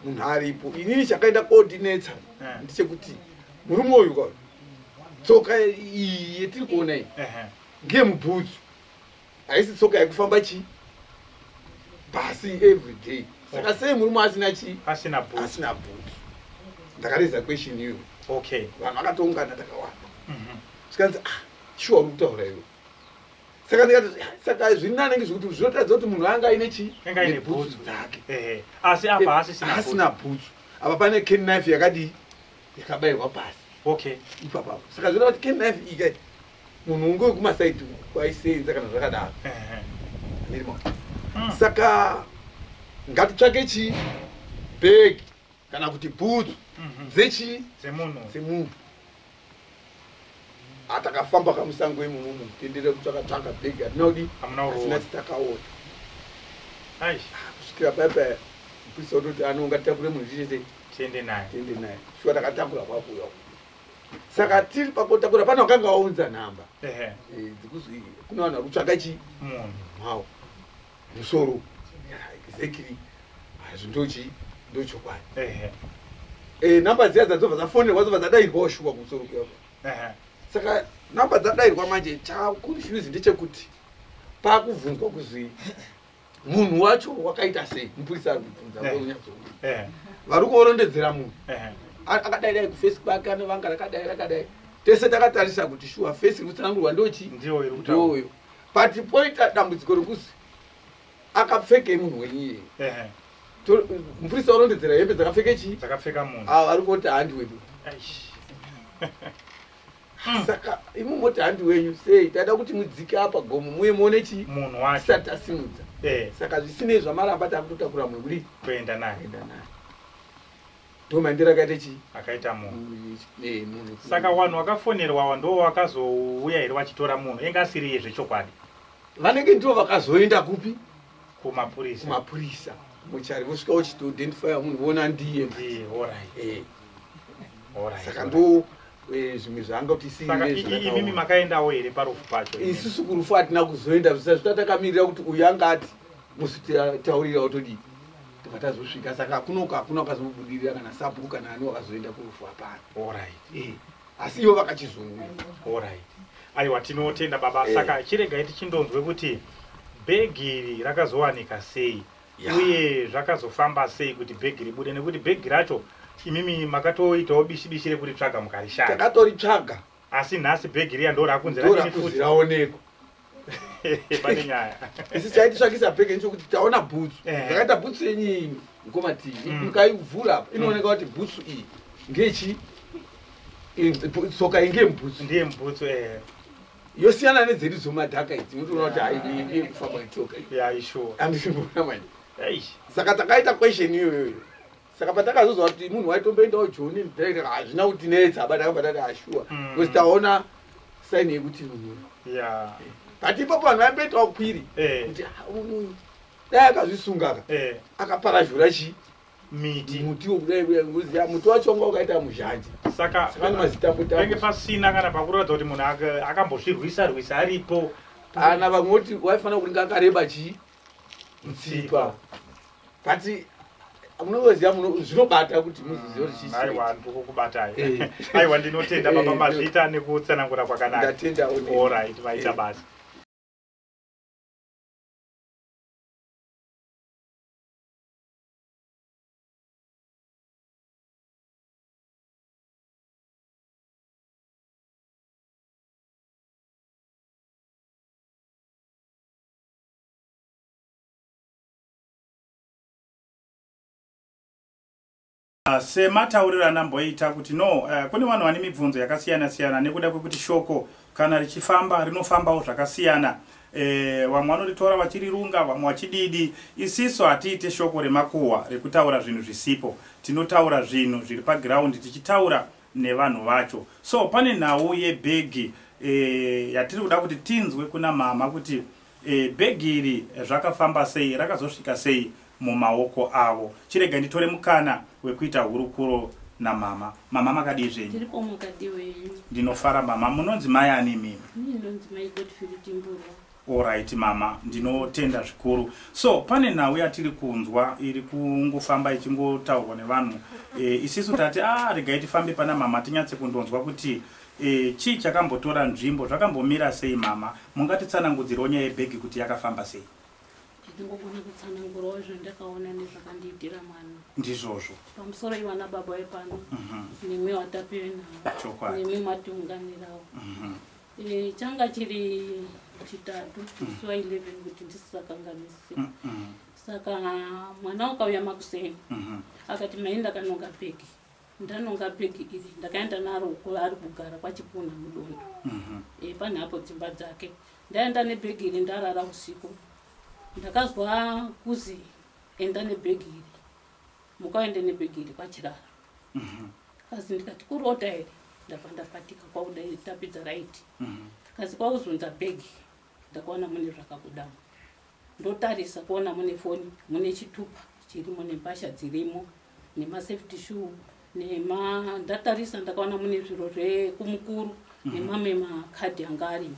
munhu aripo inini chakaenda kodinetsa eh. ndichekuti murume uyu ka tsoka iyi yetiri kuona iyi ndiye mubhutsu haisi tsoka yekufamba chii basi every day saka oh. sei murume asina chii asina bhutsu ndakareza question iyoyo okay vanhu vakatoungana takawanda mhm. zvikanzi ah shuwa uri kutaura iwe saka ndikati saka zvini anenge zvekuti zvinotadza kuti munhu anga aine chii nebhutsu dzake asi apa haasisina bhutsu apa pane ken knife yakadii yakabayirwa pasi okay ipapapo saka zvinoa kuti ken knife ika munhu unge wekumasaidi kwaisenza kana zvakadaro ndirimo hmm. saka ngatitsvake chii bhegi kana kuti bhutsu mhm. dzechii dzemunhu atakafamba ah, kamusango imumu tendere kutsvaka tsvaka bhegi atinaudi asina titakaona ah, kusvikira paipa mupisa utoti ano ungatakure munhu chichese tiende naye tiende naye shuwa takatakura kwakuya saka tiri pakotakura pane wakanga waunza nhamba eh, dzikuzwi kuna vanhu vakutsvaka chi munhu mao musoro exactly hazvo ndochi ndochokwadi ehe eh number dziya dzadzova dzafonerwa dzova dzadairwa shuwa kumusoro kuyako ehe saka number dzadairwa manje cha confuse ndechekuti pakubvunzwa kuzwi munhu wacho wakaita sei mupurisa ari kubvunza Ehe. vonyatso ehe vari kuorondedzera munhu ehe A- akadai dai kufesi kwake anovanga rakadai rakadai tese takatarisa kuti shuwa fesi iri kutsanangurwa ndochi ndiyo iri kutaura ndoyo but poita dambudziko rekuzi akapfekei munhu wenyu iyeye muprista warondedzera hembe dzakapfeke chii dzakapfeka munhu ah, ari kuti handi wedu hmm. saka imi moti handi wenyu sei taida kuti mudzike apa gomo muye muone chii munhu wacho tisati tasimudza eh. saka zvisinei zvamaramba takutotakura mweuri kuenda naye Doma ndira kaite chi? Akaita munhu. Eh, munhu. Saka wanhu wakafonerwa wa ndo wakazouya here wachitora munhu enga asiri yezve chokwadi. Vanenge ndo vakazoenda kupi? Kuma purisa. Kuma purisa. Muchari vosvika uchito identify munhu vona ndiye. Ndiye, all right. Eh. All right. Saka ndo eh, zvimwe zvaanga kuti isiimimi makaendawo here parufu pacho isusu kurufu hatina kuzoenda zvisazvita takamirira kuti uyu anga ati musi taurira otodii tobva tazosvika saka kunoko hakuna wakazobudirira kana sabhuku kana ani wakazoenda kurufu hapana orit eh, asi ivo vakachizouya orit aiwa tinotenda baba eh. saka chiregai tichindonzwe kuti bhegi iri rakazowanika sei yeah. uye zvakazofamba sei kuti bhegi ribude nekuti bhegi racho imimi makatoitawo bishi bishi rekuti tsvaga mukarishaya takatoritsvaga asi nhasi bhegi riya ndorakunziraonekwa pane nyaya isi chaititsvakisa peke ndichokuti taona bhutsu eh. zvakaita bhutsu yenyini mukoma tii mm. ukaivhura apa inooneka kuti bhutsu iyi ngechi soka inge mbutsu ndiye mbutsu eh. yosiyana nedzedu dzomadhaka idzi unotoona kuti haikufamba itsoka andisiona manje saka takaita question iyoyoyo saka patakazoziva kuti munhu waitomboendawo joni direct hazvina kutinetsa but akabva tati ashuwa ah, mm. because taona saini yekuti munhu but ipapo vanhu vaimboitawo kwiri eh. kuti ah, uyu dai akazvisungaka eh. akaparazhura chii miti muti wokudai uya ngozi ya muti wacho wanga wakaita muzhanje saka saka mazitambotambo pasina kana pakuratidza kuti munhu akambozvirwisa rwisa aripo ana vamwe voti waifanira kuti ngakareba chii mutsipa kati munoziva muno zvinobata kuti muzizive kuti chii aiwa ndikukubatai Eh. aiwa ndinotenda baba Eh, mazvita nekutsanangura kwakanaka ndatenda onini. orit vaita Eh. basa Ah, sematauriro andamboita kuti no uh, kune vanhu vane mibvunzo yakasiyana siyana nekuda kwekuti shoko kana richifamba rinofambawo zvakasiyana eh, vamwe vanoritora vachirirunga vamwe vachididi isiso hatiite shoko remakuhwa rekutaura zvinhu zvisipo tinotaura zvinhu zviri pagiraundi tichitaura nevanhu vacho so pane nhau yebhegi e, yatiri kuda kuti tinzwe kuna mama kuti e, bhegi iri zvakafamba sei rakazosvika sei mumaoko avo chirega nditore mukana wekuita hurukuro namama mama makadii zvenyu ndinofara mama munonzi mai ani mimi Alright mama, ndinotenda zvikuru. So pane nhau yatiri kunzwa iri kungofamba ichingotaurwa nevanhu. E, isisu tati ah regai tifambe pana mama tinyatse kundonzwa kuti e, chii chakambotora nzvimbo, zvakambomira sei mama? Mungatitsanangudzirawo nyaya yebhegi kuti yakafamba sei? ndingogona kutsanangurawo zvandakaona nezvakandiitira mwana ndizvozvo pamusoro ivana baba vepano mhm. nemwi watapive navo nemwi matiunganirawo mhm. Eh, changa chiri chitatu musi wa 11 kuti ndisisakanganise Mm, mm, saka mwana ukauya makuseni mhm. akati mai ndakanonga bhegi ndanonga bhegi iri ndakaenda naro uko ari kugara kwachipuna mudondo Mhm. e, pane apo dzimba dzake ndaenda nebhegi iri ndarara usiku ndakazwa kuzi enda nebhegi iri muka uende nebhegi iri kwachirara mhm. kazi ndikati kurota here ndabva ndapatika kwakuda tapidza raiti mhm. kazi kwakuzunza bhegi ndakaona mune zvakabudamo ndotarisa kuona mune foni mune chitupa chirimo nembasha dzirimo nemasafety shoe nema ndatarisa ndakaona mune zviro zvekumukuru mhm. nemamwe makadhi anga arimo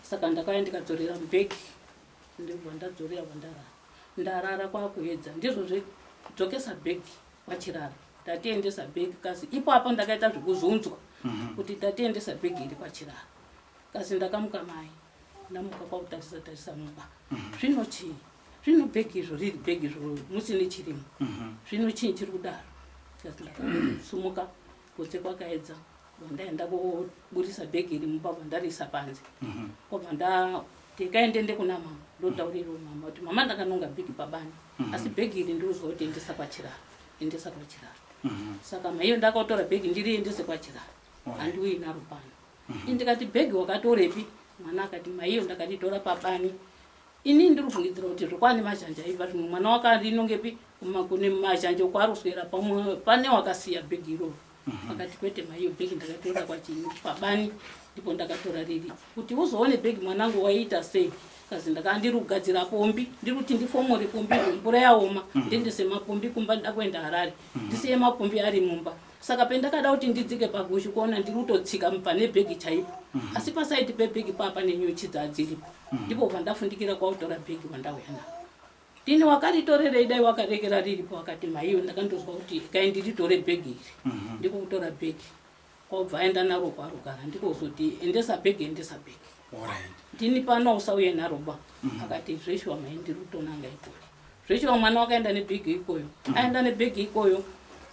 saka ndakauya ndikadzorera mubhegi ndobva ndadzorera kwandarara ndarara kwakuedza ndizvo zvedzokesa bhegi kwachirara tatiendesa bhegi kasi ipapo ndakaita zvekuzunzwa mhm. kuti tatiendesa bhegi iri kwachirara kasi ndakamuka mai ndamuka kwakutarisa tarisa mumba mhm. zvino chii zvino bhegi izvo riri bhegi izvo musine chirimo mhm. zvino chii chiri kudaro kasi ndakasumuka kutse kwakaedza vandaenda koburitsa bhegi iri mumba vandariisa panze mhm. kwabva ndikaendende kuna mama ndotauriro mama kuti mama ndakanonga bhegi pabani mhm. asi bhegi iri ndiriuziva kuti endesa kwachiraro endesa kwachiraro mhm. saka maiyo ndakatora bhegi ndiri endese kwachiraro handiuyi naro pano ini ndikati bhegi wakatorepi mwana akati maiyo ndakatitora pabani ini ndiri kubvungidzira kuti zvokwani mazhanja aiva zvino mwana wakarinongepi kune mazhanja ukwaruswera pamwe pane wakasiya bhegi iroro mhm. akati kwete maiyo bhegi ndakatora kwachinyi pabani ndipo ndakatora riri kuti uzoone bhegi mwanangu waiita sei kazi ndakaa ndiri kugadzira pombi ndiri kuti ndifomore pombi mvura yaoma mhm. ndiendese mapombi kumba ndida kuenda harare mhm. ndisiye mapombi ari mumba saka pendakada kuti ndidzike pagushu kuona ndiri kutotsika mubva nebhegi chaipo mhm. asi pasaidi pebhegi paa pane nyuchi dzadziripo ndipo pandafundikira kwautora bhegi wandauya nao Tini wakaritorerei dai wakarekera riripo wakati maiyo ndakandonzwa kuti kai ndiritore bhegi iri mhm. ndiko kutora bhegi kwakubva aenda naro kwarugara ndiko kuzoti endesa bhegi endesa bhegi ndini pano usauye naro ba mhm. akati zveshuwa mai ndiri kutonanga ikoko zveshuwa mwana wakaenda nebhegi ikoyo mhm. aenda nebhegi ikoyo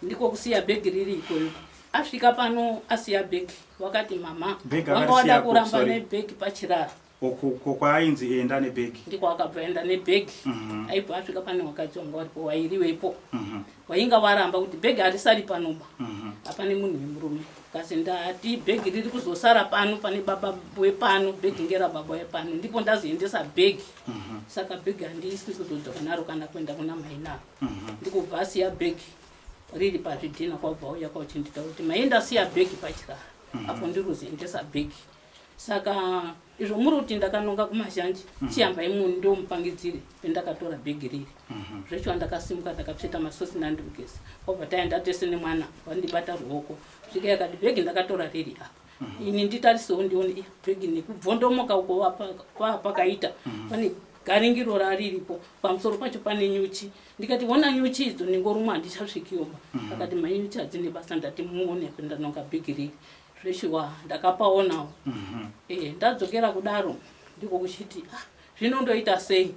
ndiko kusiya bhegi riri ikoyo asvika pano asiya bhegi wakati mama wanga wada kuramba nebhegi pachiraro uko kwaainzi enda nebhegi ndiko akabva enda nebhegi mhm. aibva asvika pane wakadzi wanga waripo wairiwepo mhm. wainga waramba kuti bhegi harisari panoba mhm. apane munhu wemurume kasi ndati bhegi riri kuzosara pano pane baba wepano bhegi ngera baba wepano ndipo ndazoendesa bhegi saka bhegi handiisi kuzodza kunaro kana kuenda kuna mai naro ndikubva asiya bhegi riri pazvidhina kwabva uya kwauchindita kuti maenda siya bhegi pachirara apo ndiri kuzoendesa bhegi saka izvo muri kuti ndakanonga kumazhanji mm -hmm. chiyambai munhu ndomupangidzire pendakatora bhegi riri mm -hmm. zvecho andakasimuka ndakapseta masosi nandimugeza kwabva taenda tese nemwana vandibata ruoko svika yakati bhegi ndakatora riri apa mm -hmm. ini nditarisewo ndione eh, bhegi nekubvondomoka uko kwapakaita mm -hmm. pane garingiro rariripo pamusoro pacho pane nyuchi ndikati wona nyuchi idzo ningorumwa handichasvikioma mm -hmm. akati manyuchi adzine basa ndati muone pendanonga bhegi riri zveshuwa ndakapaonawo mhm. eh, ndadzokera kudaro ndiko kuchiti ah, zvino ndoita sei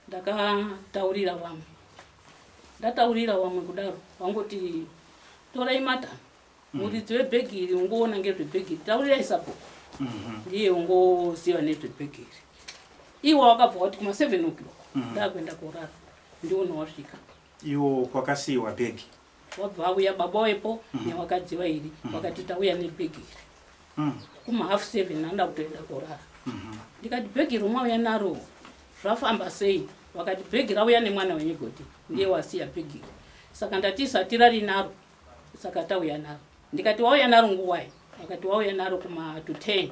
ndakataurira vamwe ndataurira vamwe kudaro vangoti torai mata mhm. muridzi webhegi iri ungoona ngezvebhegi iri taurirai sabhuku mhm. ndiye ungoziva nezvebhegi iri iwe wakabva wati kuma seven o'clock ndakuenda korara ndiona wasvika Iwo kwakasiiwa bag. Wabva auya baba wepo mm. newakadzi vairi mm. wakati tauya nebag iri. Mm. Kuma half seven anda kutoenda korara. Mm -hmm. Ndikati bag iri mwauya naro zvafamba sei? Wakati bag rauya nemwana wenyu goti ndiye mm. wasiya bag iri. Saka ndati satira rinaro saka tauya naro. Ndikati wauya naro nguwai? Wakati wauya naro kuma to ten.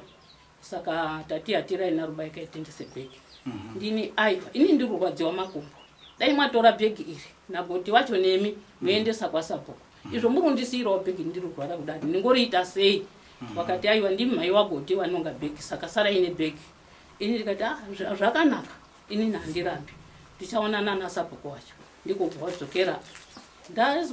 saka tati hatirai narubai kaitengese bhegi mhm. ndini aiwa ini ndiri kurwadziwa makumbo dai mwatora bhegi iri nagoti wacho nemi mhm. moendesa kwasabhuku mhm. izvo muri kundisiirawo bhegi ndiri kurwara kudati ndingoriita sei wakati aiwa ndimi mhai wagoti vanonga bhegi saka sara ine bhegi ini ndikati ah, zvakanaka inini handirambi ndichaonana nasabhuku wacho ndiko kubva wadzokera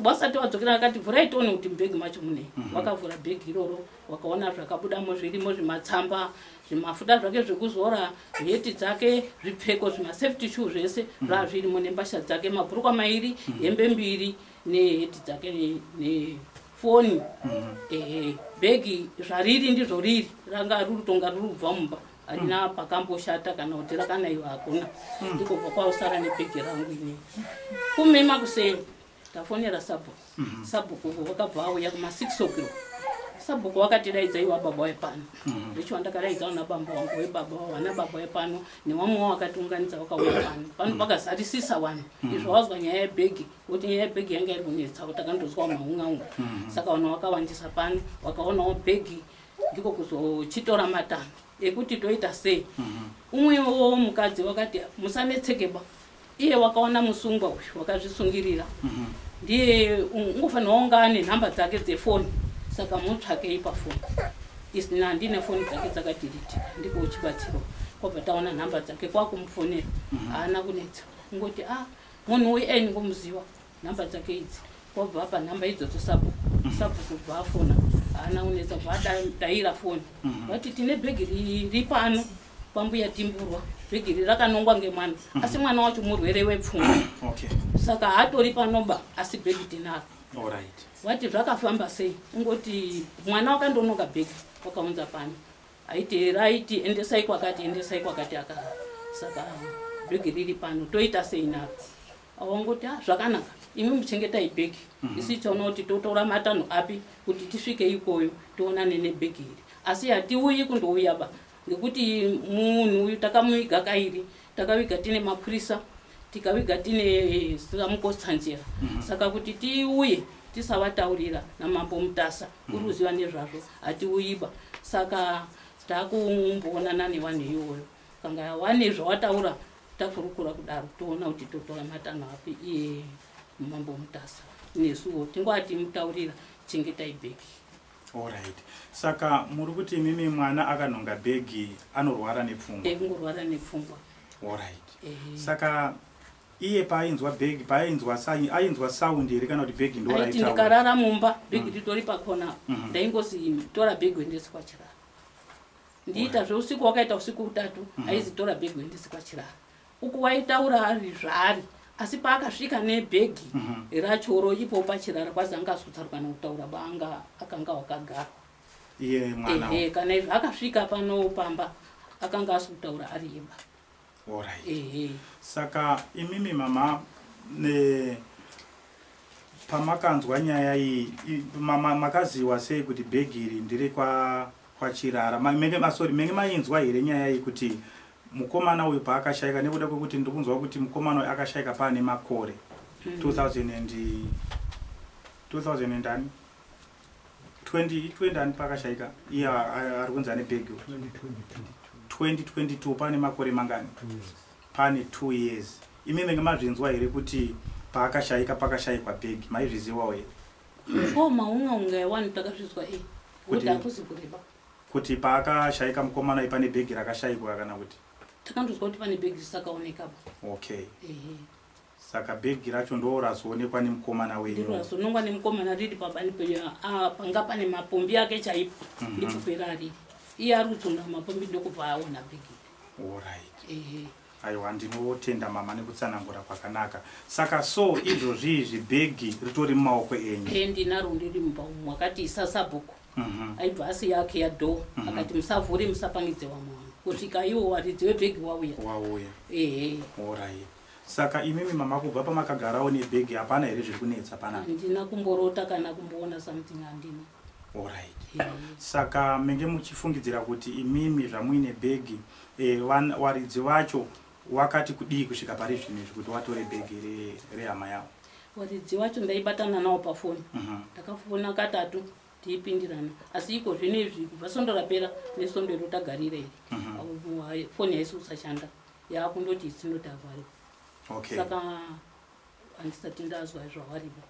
wasati wadzokera akati vhurai tione kuti mubhegi macho mune mhm. wakavhura bhegi iroro wakaona zvakabudamo zvirimo zvimatsamba zvimafuta zvake zvekuzora heti dzake zvipfeko zvimasafety shoe zvese mhm. zvaa zvirimo nembasha dzake mabhurukwa mairi mhm. hembe mbiri neheti dzake nefoni ehe bhegi zvariri ndizvo riri ranga ruri tonga riri kubva mumba harina pakamboshata kana kuti rakanaiwa hakuna hmm. ndikobva kwausara nebhegi rangu ini kume makuseni tafonera sabhuku hmm. sabhuku vakabva auya kuma six o'clock sabhuku vakatidaidza iwa baba wepano hmm. vecho vandakadaidza vana bamba wangu webaba vana baba wepano newamwe wa vakatiunganidza vakauya pano pano pakazarisisa vanhu izvo vazwa nyaya yebhegi kuti nyaya yebhegi yanga iri kunetsa kuti takandozwa maungaunga saka vanhu vakawandisa pano vakaonawo bhegi mm -hmm. ndiko kuzochitora matanho ekuti toita sei mhm. umwewo mukadzi wakati musanetsekeba iye wakaona musungwa uyu wakazvisungirira mhm. ndiye ungofanirwa unga ane nhamba dzake dzefoni saka mutsvakei pafoni isina handine foni dzake dzakadiritika ndiko uchibatsirwa kwabva taona nhamba dzake kwakumufonera mhm. haana kunetsa ungoti a ah, munhu uyu aini ngomuziva number dzake idzi wabva apa number idzo tosabu mm. sabu kubva afona haana unetsa kubva adaira foni mm-hmm. vati tine bhegi riri pano kwambuya timburwa bhegi riri rakanongwa ngemwana mm-hmm. asi mwana wacho murwere wepfungwa saka haatori panoba asi bhegi tinaro vati zvakafamba sei ungoti mwana wakandonoka bhegi wakaunza pano aiti raiti endesai kwakati endesai kwakati aka saka bhegi riri pano toita sei naro awangoti ah, zvakanaka imi muchengetai bhegi mhm. isu tiona kuti totora matanho api kuti tisvike ikoyo tionane nebhegi iri asi hatiuyi kundouya ba ngekuti munhu uyu takamuviga kairi takaviga tine mapurisa tikaviga tine eh, samukotsanjera mhm. saka kuti tiuye tisavataurira namambo mutasa mhm. uri kuziva nezvazvo hatiuyiba saka takumboonana nevanhu iyoyo kana wane zvawataura takurukura kudaro toona kuti totora matanho api iye mambo mutasa nesuwo tingwati mutaurira chengetai bhegi orit saka muri kuti imimi mwana akanhonga bhegi anorwara nepfungwa ekungorwara eh, nepfungwa orit eh. saka iye paainzwa bhegi paainzwa ainzwa saundi here kana kuti bhegi ndoaiti ndikarara mumba bhegi mm. ritori pakona mhm. ndaingosi tora bhegi wendesi kwachirara ndiita zveusiku wakaita usiku utatu mhm. aizi tora bhegi uendese kwachirara uku waitaura ari zvaari asi paakasvika nebhegi mhm. rachoro ipo pachirara kwazi anga azotsarwa nekutaura baanga akanga wakagarwa ehe kana izvo akasvika pano pamba akanga asi kutaura ari yeba Alright. Ehe. Saka imimi mama ne pamakanzwa nyaya iyi i- mama makaziwa sei kuti bhegi iri ndiri kwa kwachirara Ma- menge ma- sorry menge mainzwa here nyaya iyi kuti mukomana uyu paakashaika nekuda kwekuti ndiri kunzwa kuti mukomana uyu akashaika paane makore 2000 and 2000 and ani 2020 ani pakashaika iye ari kunzi ane bhegi 2022 pane makore mangani pane two years imi menge mazvinzwa here kuti paakashaika pakashaikwa bhegi maizviziwawo here ko maunga unga yawani takazvizwa e kuti hakuzi kureba kuti paakashaika mukomana ipane bhegi rakashaikwa kana kuti takandozwa kuti pane bhegi risakaonekapa okay saka bhegi racho ndorazoonekwa nemukomana wenyorazoonekwa nemukomana riri pabani penyu ah, panga pane mapombi ake chaipo mhm. ndikupera ariri iye ari kutsonga mapombi ndokubva aona bhegi orit aiwa ndinotenda mama nekutsanangura kwakanaka saka so izvozvi izvi bhegi ritori mumaoko enyu e ndinaro ndiri mumba umu wakati isasabhuku Mhm. aibva asiya ake yadoor Mhm. akati musavhure musapangidze vamwe vanhu kusvika iwo waridzi webhegi wauya wauya ehe orai saka imimi mama kubva pamakagarawo nebhegi hapana here zviri kunetsa panapa handina kumborota kana kumboona something handina orit Ehe. saka menge muchifungidzira kuti imimi zvamuine bhegi eh, van- waridzi vacho wakati kudii kusvika pari zvino izvi kuti watore bhegi re- rehama yavo Waridzi wacho ndaibatana nawo pafoni mhm. ndakafona katatu tiipindirana asi iko zvino izvi kubva sondo rapera nesondo iro tagarira iri mhm. foni haisi kusashanda yaakundoti isinoti avhari saka handisati ndazwa zvawariva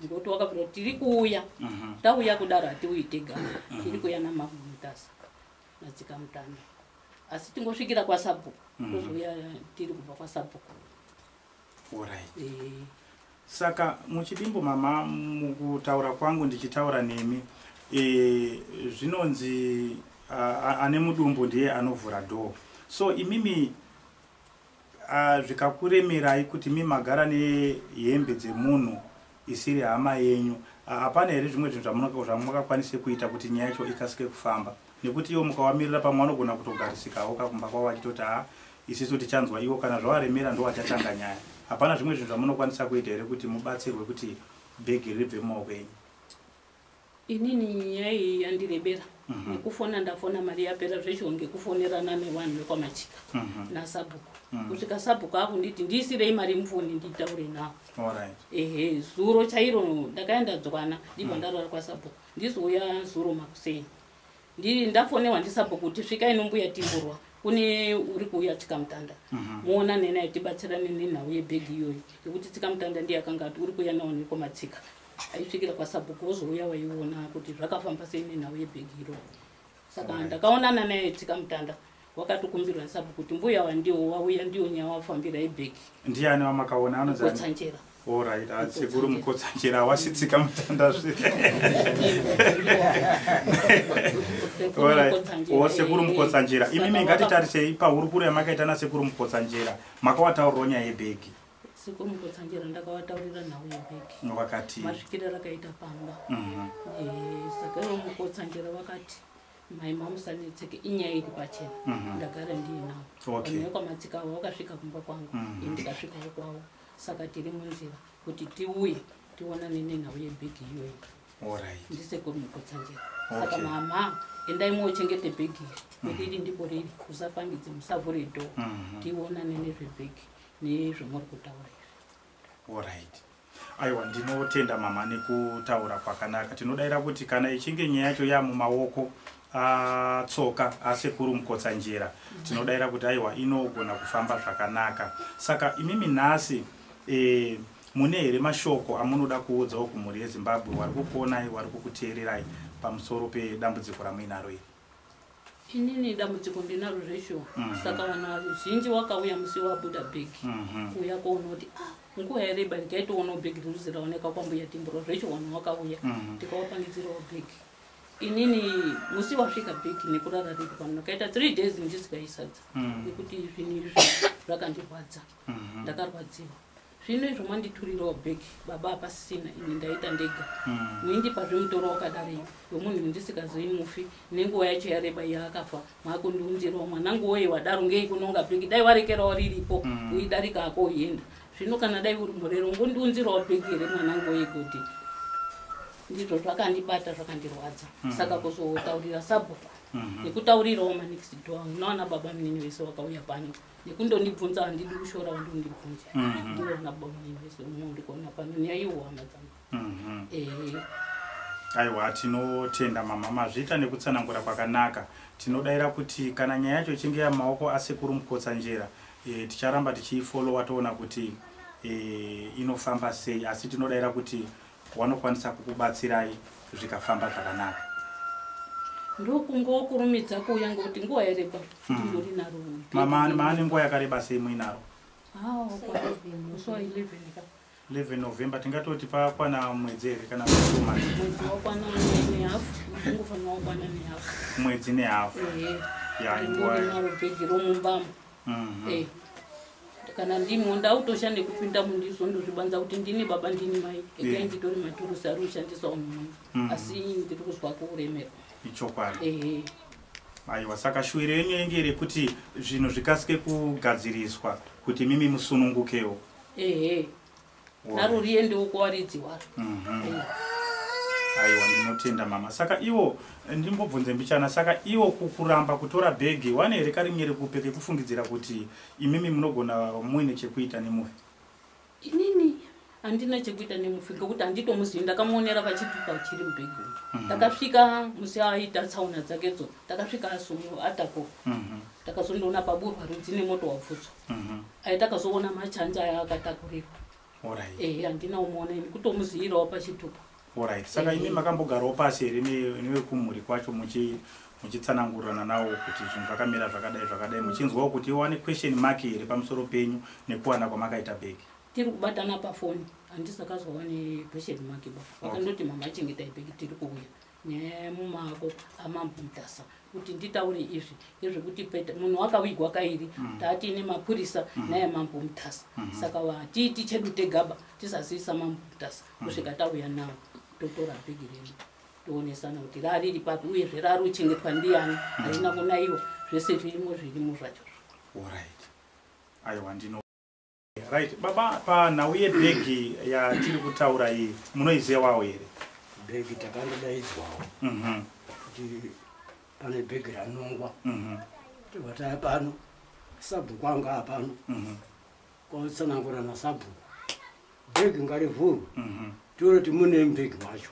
ngokuti wakabvira kuti tiri kuuya mhm. tauya kudaro hatiuyi tega mhm. tiri kuuya namamutasa nadzika mutano asi tingosvikira kwasabhuku tozouya tiri kubva kwasabhuku Alright. Eh. Saka muchidimbo mama mukutaura kwangu ndichitaura nemi e, zvinonzi ane mudumbu ndiye anovhura door so imimi zvikakuremerai kuti mi magara nehembe dzemunhu isiri hama yenyu hapana here zvimwe zvinhu zvamungakwanise kuita kuti nyaya yacho ikasike kufamba nekuti iwo mukawamirira pamwe vanogona kutogarisikawo kakumba kwavo vachitoti ha isisu tichanzwa iwo kana zvawaremera ndowachatanga nyaya hapana zvimwe zvinhu zvamunokwanisa kuita here kuti mubatsirwe kuti bhegi ribve mumaoko enyu inini nyaya iyi yandirebera mhm. nekufona ndafona mari yapera zvechiwo ngekufonerana nevanhu vekwamachika mhm. nasabhuku mhm. kusvika sabhuku akunditi ndiisirei mari mufoni nditaure nawo ehe zuro chairo ndakaenda dzwana ndibva ndarara kwasabhuku ndizouya zuro makuseni ndafonewa ndisabhuku kuti svika inombuya timburwa kune uri kuuya tsikamutanda muona nenaye tibatsirane nenhau yebhegi iyoyi yekuti tsikamutanda ndiye akanga ati uri kuuya nawo nekomatsika aisvikira kwasabhuku wozouya waiona kuti zvakafamba sei nenhau yebhegi iro saka ndakaonana naye tsika mutanda wakatokumbirwa nesabhuku kuti mbuya wandiwo wauya ndiwo nyaya wafambira ibhegi ndiani wamakaona anozotsanjera orit ah, sekuru mukotsanjera wasitsika mutanda zve oh, sekuru mukotsanjera imimi ngatitarisei pahurukuro yamakaita nasekuru mukotsanjera makawataurwa nyaya yebhegi siko mukotsanjera ndakavataurira nhau yebheki vakati masvikira rakaita pamba mhm. eh, saka ivo mukotsanjera vakati mai mamusanetseke inyaya iri pachena mhm. ndagara ndiinavo ane kwamatsika avo vakasvika kumba kwangu mhm. ndikasvikawo kwavo saka tiri munzira kuti tiuye tionane nenhau yebhegi iyoyo ndisekuru mukotsanjera saka mama endai mochengete bhegi iri kuti iri ndipo riri usapangidze musavhure dho tionane nezvebhegi nezvamuri kutaura izvi orit aiwa ndinotenda mama nekutaura kwakanaka tinodaira kuti kana ichinge nyaya yacho yamumaoko atsoka asekuru mukotsanjera tinodaira kuti aiwa inogona kufamba zvakanaka saka imimi nhasi e, mune here mashoko amunoda kuudzawo kumhuri yezimbabwe wari kukuonai wari kukuteererai pamusoro pedambudziko ramuinaro iri inini dambudziko ndinaro zveshuwa mhm. saka vanhu vazhinji wakauya musi wabuda big mhm. kuuya koona kuti ah, nguva yareba ndikaitoonawo big riruzi raoneka kwambuya timburo zveshuwa vanhu wakauya mhm. ndikawapangidzirawo big inini musi wasvika big nekurara riri pano ndakaita three days ndisikaisadza nekuti zvinhu izvi zvakandirwadza ndakarwadziwa zvino izvo manditurirawo bag baba hapasisina ini ndaita ndega hmm. muindipa zvemutoro wakadari wemunhu ndisikazoyi mufi nenguva yacho yareba yaakafa maakundiunzirawo mwanangu woye wadaro ngei kunonga bhegi dai warekerawo riripo hmm. uidarika ako uenda zvino kana dai uri murero ngondiunzirawo bhegi here mwanangu woye kuti ndizvo zvakandibata zvakandirwadza hmm. saka kuzotaurira sabhuku nekutaurirawo manext door unoona baba munini vese vakauya pano nekundondibvunza handidi kushora kuti undibvunze mhm. ndiona bamuivese uno ndikuona pano nyaya iwama dzangu mhm. ehe aiwa tinotenda mama mazviita nekutsanangura kwakanaka tinodaira kuti kana nyaya yacho ichinge yamaoko asekuru mukotsanjera e, ticharamba tichiifolowa toona kuti e, inofamba sei asi tinodaira kuti wanokwanisa kukubatsirai zvikafamba zvakanaka ndokungokurumidza kuuya ngokuti nguva yareba ndingori hmm. naro mama maane nguva yakareba sei muinaro leven november tingatoti pakwana mwedzi here kana mwedzi nehafu ya inguva mhm. eh, kana ndimwo ndautosha nekupinda mundizo ndozvibanza kuti ndini baba ndini mai ekai eh. nditori maturusi ari kushandiswa umwe mhm. asi ndiri kuzwa kuremerwa ichokwadi eh, aiwa saka shuwiro yenyu yenge rekuti zvinhu zvikasike kugadziriswa kuti mimi musunungukewo ehe naro riye ndiuko waridzi waro mhm. aiwa ndinotenda mama saka iwo ndimbobvunze mbichana saka iwo kuramba kutora bhegi wane here karinge rekupe kekufungidzira kuti imimi munogona muine chekuita nemufi inini handina chekuita nemufi ngekuti handitomuzivi ndakamuonera pachipipa chiri mubhegi mhm. ndakasvika musi aita tsaona dzakedzo ndakasvika asungu atako mhm. ndakazondiona paburwa rudzi nemoto wabvutswa Mhm. aitakazoona machanja aya akatakurirwa Alright. ehe handina umuona ini kutomuziyirawo pachitupa Alright. Saka imi makambogarawo pasi here ne- nevekumhuri kwacho muchi muchitsanangurirana nawo kuti zvinhu zvakamira zvakadai zvakadai muchinzwawo kuti iwane question mark here pamusoro penyu nekuwana kwamakaita bhegi tiri kubatana pafoni handisakazwawa nequestion mark ba vakandoti mama achengetai bheki tiri kuuya nemumako amambo mutasa kuti nditaure izvi ezvekuti peta munhu wakavigwa kairi mm. taati ine mapurisa mm. naye mambo mutasa mm. saka vatiiti chedu tegaba tisazivisa mambo mutasa kusvika tauya nawo totora bhegi renu toonesana kuti rariri papi uyezve rari uchengetwa ndiyani harina kunaiwa zvese zvirimo zvirimo zvacho aiwa ndino Right. Baba, panhau yebhegi yatiri kutaura iyi munoizivawo here? Bhegi takandodaidzwawo mhm. kuti pane bhegi ranongwa mhm. tivataya pano sabhuku anga apano mhm. kwatsanangura nasabhuku bhegi ngarivhurwe tione kuti mune bhegi macho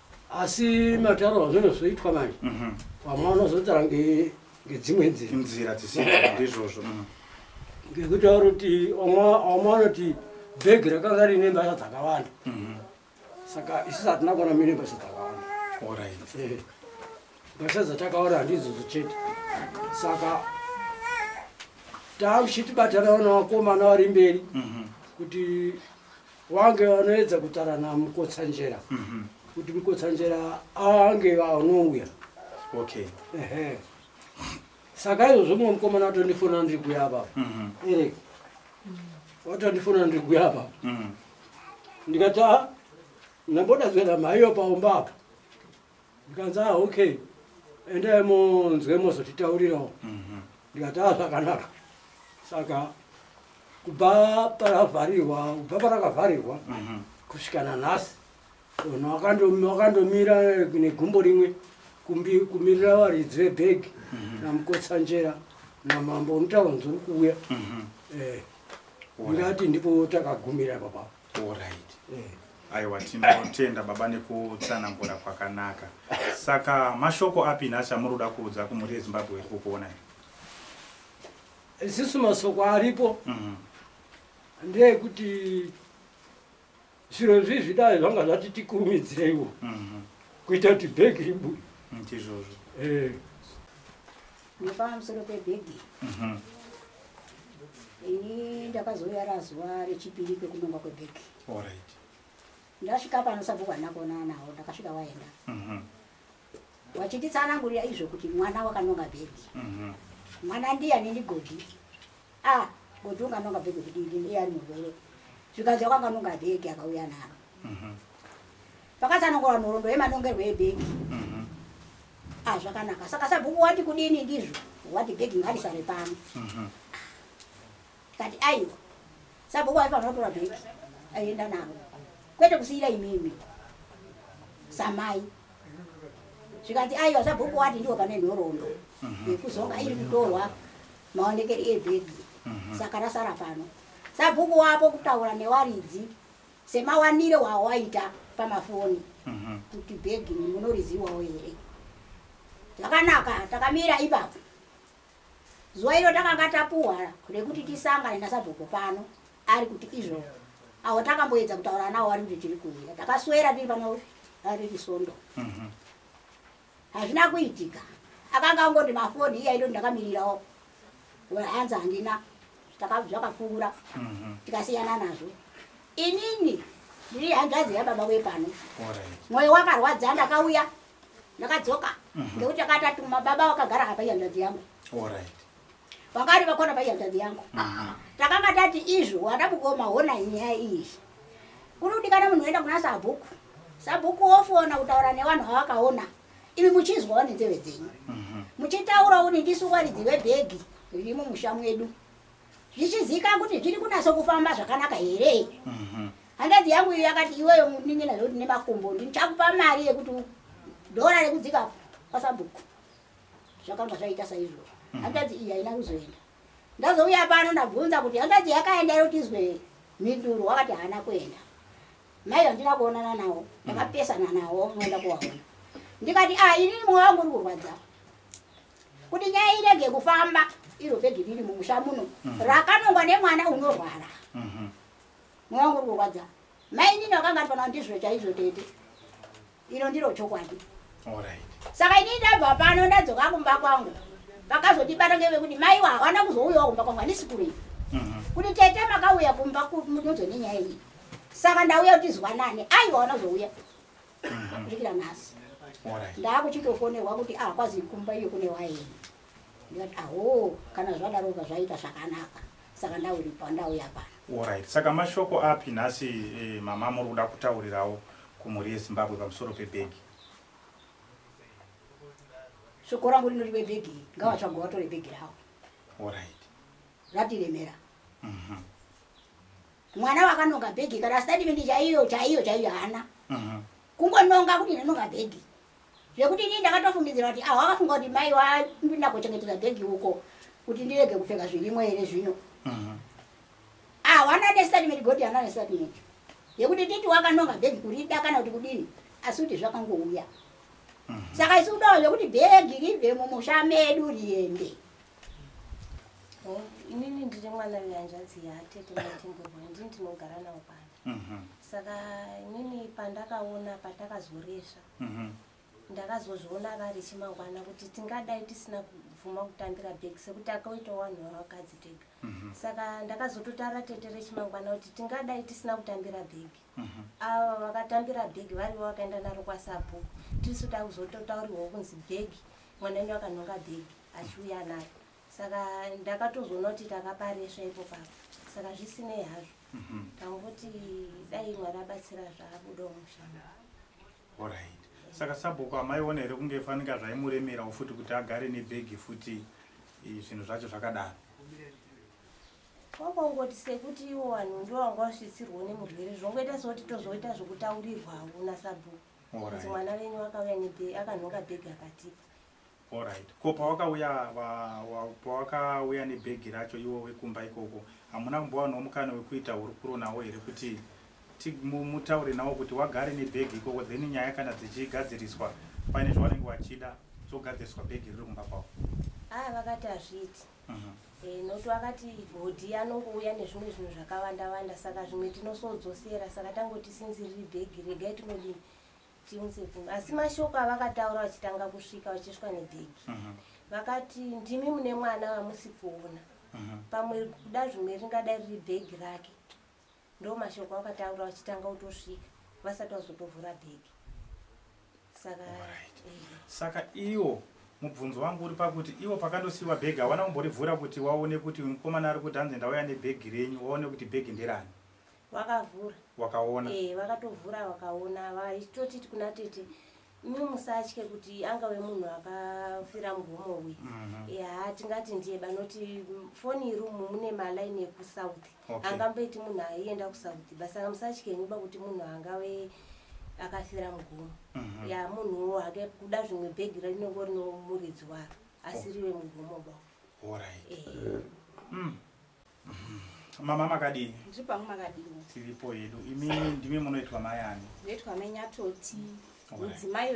asi mataro azvino zvoitwa manje mhm. vamwe vanozotara ngedzimwe nzira nzira dzisindizvozvo mhm. ngekuti auri kuti vamwe vanoti bhegi rakanga rine mbasha dzakawanda mhm. saka isu satina kuona mine mbasha dzakawanda eh. mbasha dzatakaona handizozo chete saka taakuchitibatana vana vakomana vari mberi kuti wange vanoedza kutara namukotsanjera mhm. kuti mukotsanjera ange vanouya okay ehe saka izvozvo mumwe mukomana watondifona ndiri kuya apa mhm. eric watondifona ndiri kuya apa mhm. ndikati a ah, ndamboda zvenamaiyo paumba apa ndikanzi ah okay endai munzwe mozotitaurirawo mhm. ndikati ah zvakanaka saka kubva paravharirwa kubva parakavharirwa mhm. kusvika nanhasi unhu wakandomira negumbo rimwe kumirira varidzi vebhegi mhm. namukotsanjera namambo unotava nzuri kuuya eh, ndingati ndipo takagumira ipapapa Alright. Eh. Aiwa tinotenda baba nekutsanangura kwakanaka. Saka mashoko api nhasi amuruda kuudza kumhuri yeZimbabwe iri kukuona iri? Isisu masoko aripo. Mm -hmm. Ndeyekuti zviro izvi zvidai zvanga zvati tikurumidzireiwo. Mm -hmm. Kuita kuti bhegi ribude. Ndizvozvo. Mm, eh. nepamusoro pebhegi mhm. ini ndakazouya razuva rechipiri kwekunongwa kwebhegi ndasvika pano sabhuku handina kuonana nawo ndakasvika waenda mhm. wachinditsanangurira izvo kuti mwana wakanonga bhegi mhm. mwana ndiya nendigodi a ah, goti unganonga bhege kudidi ndiye ari murwere zvikanzi wakanganonga bhege akauya naro mhm. pakasanongora nhorondo yemanongerwo ebhege mhm. a ah, zvakanaka saka sabhuku wati kudini ndizvo wati bhege ngarisare pano mhm. kati aiwa sabhuku aifanira kutora bhege aienda naro kwete kusiira imimi samai zvikanzi aiwa sabhuku wati ndiwo pane nhorondo yekuzonga iri kutorwa maonekeri iye bhedhi mhm. saka rasara pano sabhuku wapo kutaura newaridzi semawanire wawaita pamafoni mhm. kuti bhegi munoriziwawo here zvakanaka takamira ipapo zuva iro takanga tapuhwa rekuti tisangane nasabhuku pano ari kuti izvo awo takamboedza kutaura nawo ari kuti tiri kuuya takaswera tiri pano riri sondo mhm. hazvina kuitika akanga angoti mafoni iya ito ndakamirirawo hanzi handina zvakafungura mhm. tikasiyana nazvo inini ndiri hanzvadzi yababa wepano mwoyo wakarwadza ndakauya ndakadzoka mhm. ngekuti akatatuma baba wakagara apa ihanzvadzi yangu vakati vakona paihanzvadzi yangu takanga tati izvo wada mukoma hona nyaya iyi kuri kudikana munhu oenda kuna sabhuku sabhuku wofona kutaura nevanhu vavakaona imi muchinzwawo nenzeve dzenyu mhm. muchitaurawo nendisu waridzi vebhegi riri mumusha mwedu zvichizika kuti zviri kunatso kufamba zvakanaka here mhm. handazi yangu iyo yakati iweyo munin'ina zvekuti nemakumbo ndichakupa mari yekuti dhora rekudzika kwasabhuku zvakanga zvaita saizvo mm. hanzvadzi iyi haina kuzoenda ndazouya pano ndabvunza kuti hanzvadzi yakaenda yotizwe mhinduro wakati haana kuenda mai vandina kuonana nawo mm. ndakapesana nawo moenda kuvaona ndikati a ah, inini mwoyo wangu uri kurwadza kuti nyaya irege kufamba iro bhegi riri mumusha muno mm. rakanongwa nemwana unorwara mm-hmm. mwoyo wangu uri kurwadza mai inini wakanga ati panawo ndizvo chaizvo tete iro ndiro chokwadi saka ini ndabva pano ndadzoka kumba kwangu vakazondibata ngevekuti maiwa hawana kuzouyawo kumba kwangu handisi kurei mhm. kuti tete makauya kumba kunodzo nenyaya iyi saka ndauya kuti zwanane aiwa wana kuzouya mhm. kusvikira nhasi ndaakuchitofonerwa kuti ahakwazi kumba iyo kune waini ndikati ahoo kana zvadaroka zvaita zvakanaka saka ndauripa ndauya pano orit saka mashoko api nhasi eh, mama muri kuda kutaurirawo kumhuri yezimbabwe pamusoro pebhegi shoko rangu rinoti vebhegi ngavatsvagwa vatore bhegi ravo orit ratiremera mhm. mwana wakanonga bhegi kana statimenti chaiyo chaiyo chaiyo haana mhm. kungononga kuti ndinonga bhegi zvekuti inini ndakatofungidzira kuti aho akafunga kuti mai wandinakochengetedza bhegi uko kuti ndirege kupfeka zvirimo here zvino mhm. aho ana nestatimenti goti ana nestatimenti yekuti titi wakanonga bhegi kurida kana kuti kudini asi kuti zvakangouya mhm. saka isi kudawo zvekuti bhegi ribve mumusha medu riende oh, inini ndiri mwana vehanzvadzi yatete matimburwa ndini ndinogara nawo pano mhm. saka inini pandakaona pandakazoresva mhm. ndakazozviona vari chimangwana kuti tingadai tisina kubvuma kutambira bag sekuti akaita wanhu wavakadzi tega mhm. saka ndakazototaura tete rechimangwana kuti tingadai tisina kutambira bag mhm. ava vakatambira bag varivo vakaenda naro kwasabhuku tisu takuzototauriwawo kunzi bag mwana wenyu akanhonga bag achiuya naro saka ndakatozoona kuti takaparesva ipo papa saka zvisinei hazvo mhm. tangoti dai mwari abatsira zvaabuda mushanda orit saka sabhuku amaiona here kunge fanika zvaimuremerawo futi kuti agare nebhegi futi zvinhu zvacho zvakadaro kwakongoti sekuti iwo vanhu ndo vanga vasvitsirwo nemurwere zvongoita sekuti tozoita zvokutaurirwavo nasabhuku kuti mwana venyu akauya neakanhonga bhegi akatipa Alright. Ko pawakauya pawakauya nebhegi racho iwo wekumba ikoko hamuna kumbowanawo mukana wekuita hurukuro nawo here kuti mutaure nawo kuti wagare nebhegi ikoko then nyaya kana dzichigadziriswa paine zvavanenge vachida dzogadziriswa bhegi riri kumba kwavo haa vakati hazviiti mhm. eh, nokuti vakati hodhi anongouya nezvimwe zvinhu zvakawanda wanda saka zvimwe tinosodzosera saka tangoti sinzi riri bhegi regai tinodii tinzepini asi mashoko avakataura vachitanga kusvika vachisvika nedhegi mhm. vakati ndimi mune mwana vamusi kuona mhm. pamwe kuda zvimwe ringadai riri bhegi rake ndo mashoko avakataura vachitanga kutosvika vasati vazotovhura bhegi saka eh. saka iwo mubvunzo wangu uri pakuti iwo pakandosiiwa bhegi hawana kumborivhura kuti waone kuti mukomana ari kuti hanzi ndauya nebhegi renyu waone kuti bhegi nderani vakavhura wakaona eh vakatovhura vakaona vaitoti kuna tete mi musatye kuti angave munhu akafira mugomo uyu mhm. ya tingati ndiye banoti foni irumu mune malaini ekusouth angamboiti munhu aienda kusouth basi anga musatye nyiba kuti munhu angave akafira mugomo mhm. ya munhuwo hake kuda zvimwe bhegi rinenge rino muridzi waro asiriwe oh. mugomo ba eh. mm. mama makadii ndiri pangu makadii tiripo hedu imi ndimi munoitwa mai ani ndoitwa mai nyatoti mudzimai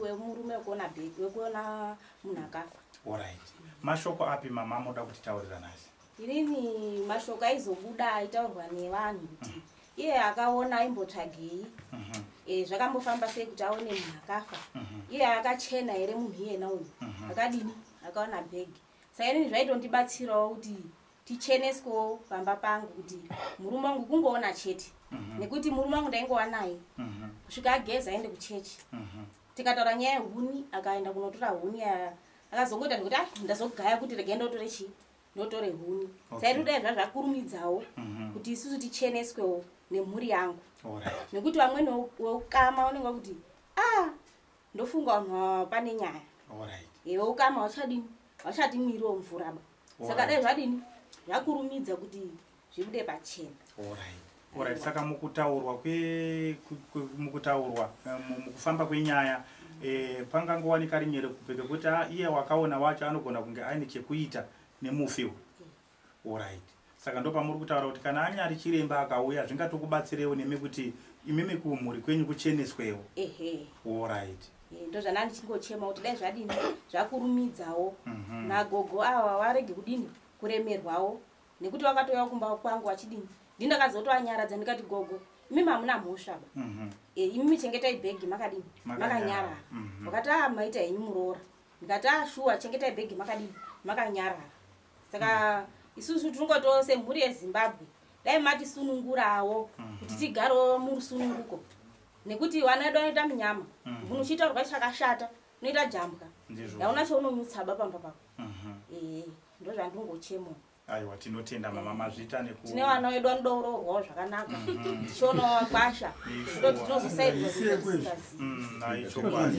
wemurume wekuona bheki wekuona munhu akafa orit mashoko api mama moda kuti taurira nai inini mashoko aizobuda aitaurwa nevanhu kuti mm. iye akaona aimbotsvagei mhm. e, zvakambofamba sei kuti aone munhu akafa mhm. iye akachena here munhu iyena uyu mhm. akadini akaona bhegi sainini zvaitondibatsirawo kuti ticheneswewo pamba pangu kuti murume wangu kungoona chete mhm. nekuti murume wangu ndaingova naye mhm. kusvika ageza aende kuchechi mhm. tikataura nyaya yehuni akaenda kunotora huni ya akazongoita nekuti a ndazogaya kuti rega ndotore chii ndotore huni saitodai zva zvakurumidzawo kuti isusu ticheneswewo nemhuri yangu nekuti vamweni weukama unenge wakuti a ah, ndofunga vanhu ava pane nyaya Alright. iwe ukama hauchadini hauchati mwiri womvura ba saka Alright. dai zvadini zvakurumidza kuti zvibude pachena Alright. Alright, saka mukutaurwa kwe, kwe, kwe mukutaurwa eh, mu- mukufamba kwenyaya eh, pangangowanika rinyere kupeka kuti ah, iye wakaona wacho anogona kunge aine chekuita nemufi uyu Alright. Saka ndopamuri kutaura kuti kana anyari chiremba akauya zvingatokubatsirewo nemi kuti imimi kumhuri kwenyu kucheneswewo. Ehe. Alright. Eh, ndozvana ndichingochema kuti dai zvadini zvakurumidzawo mhm. nagogo awa warege kudini kuremerwawo nekuti wakatouya kumba kwangu wachidini ndini ndakazotoanyaradza ndikati gogo imimi hamuna mhosva ba mhm. eh, imimi chengetai bhegi makadini makanyarara mhm. wakati a ah, maita henyu muroora ndikati a ah, shuwa chengetai bhegi makadini makanyarara saka isusu tinongoto semhuri yezimbabwe dai matisunungurawo mhm. kuti tigarewo murusununguko nekuti vana vedu vanoita munyama mhm. munhu uchitaurwa chakashata unoita jambwa yaona chaunomutsaba pamba pako mhm. ee ndo zvandingochemo aiwa tinotenda mama mazvita nekutine vana vedu vanodourorwawo zvakanaka tichionawo kwasha ndo tinozosairwaaichokwadi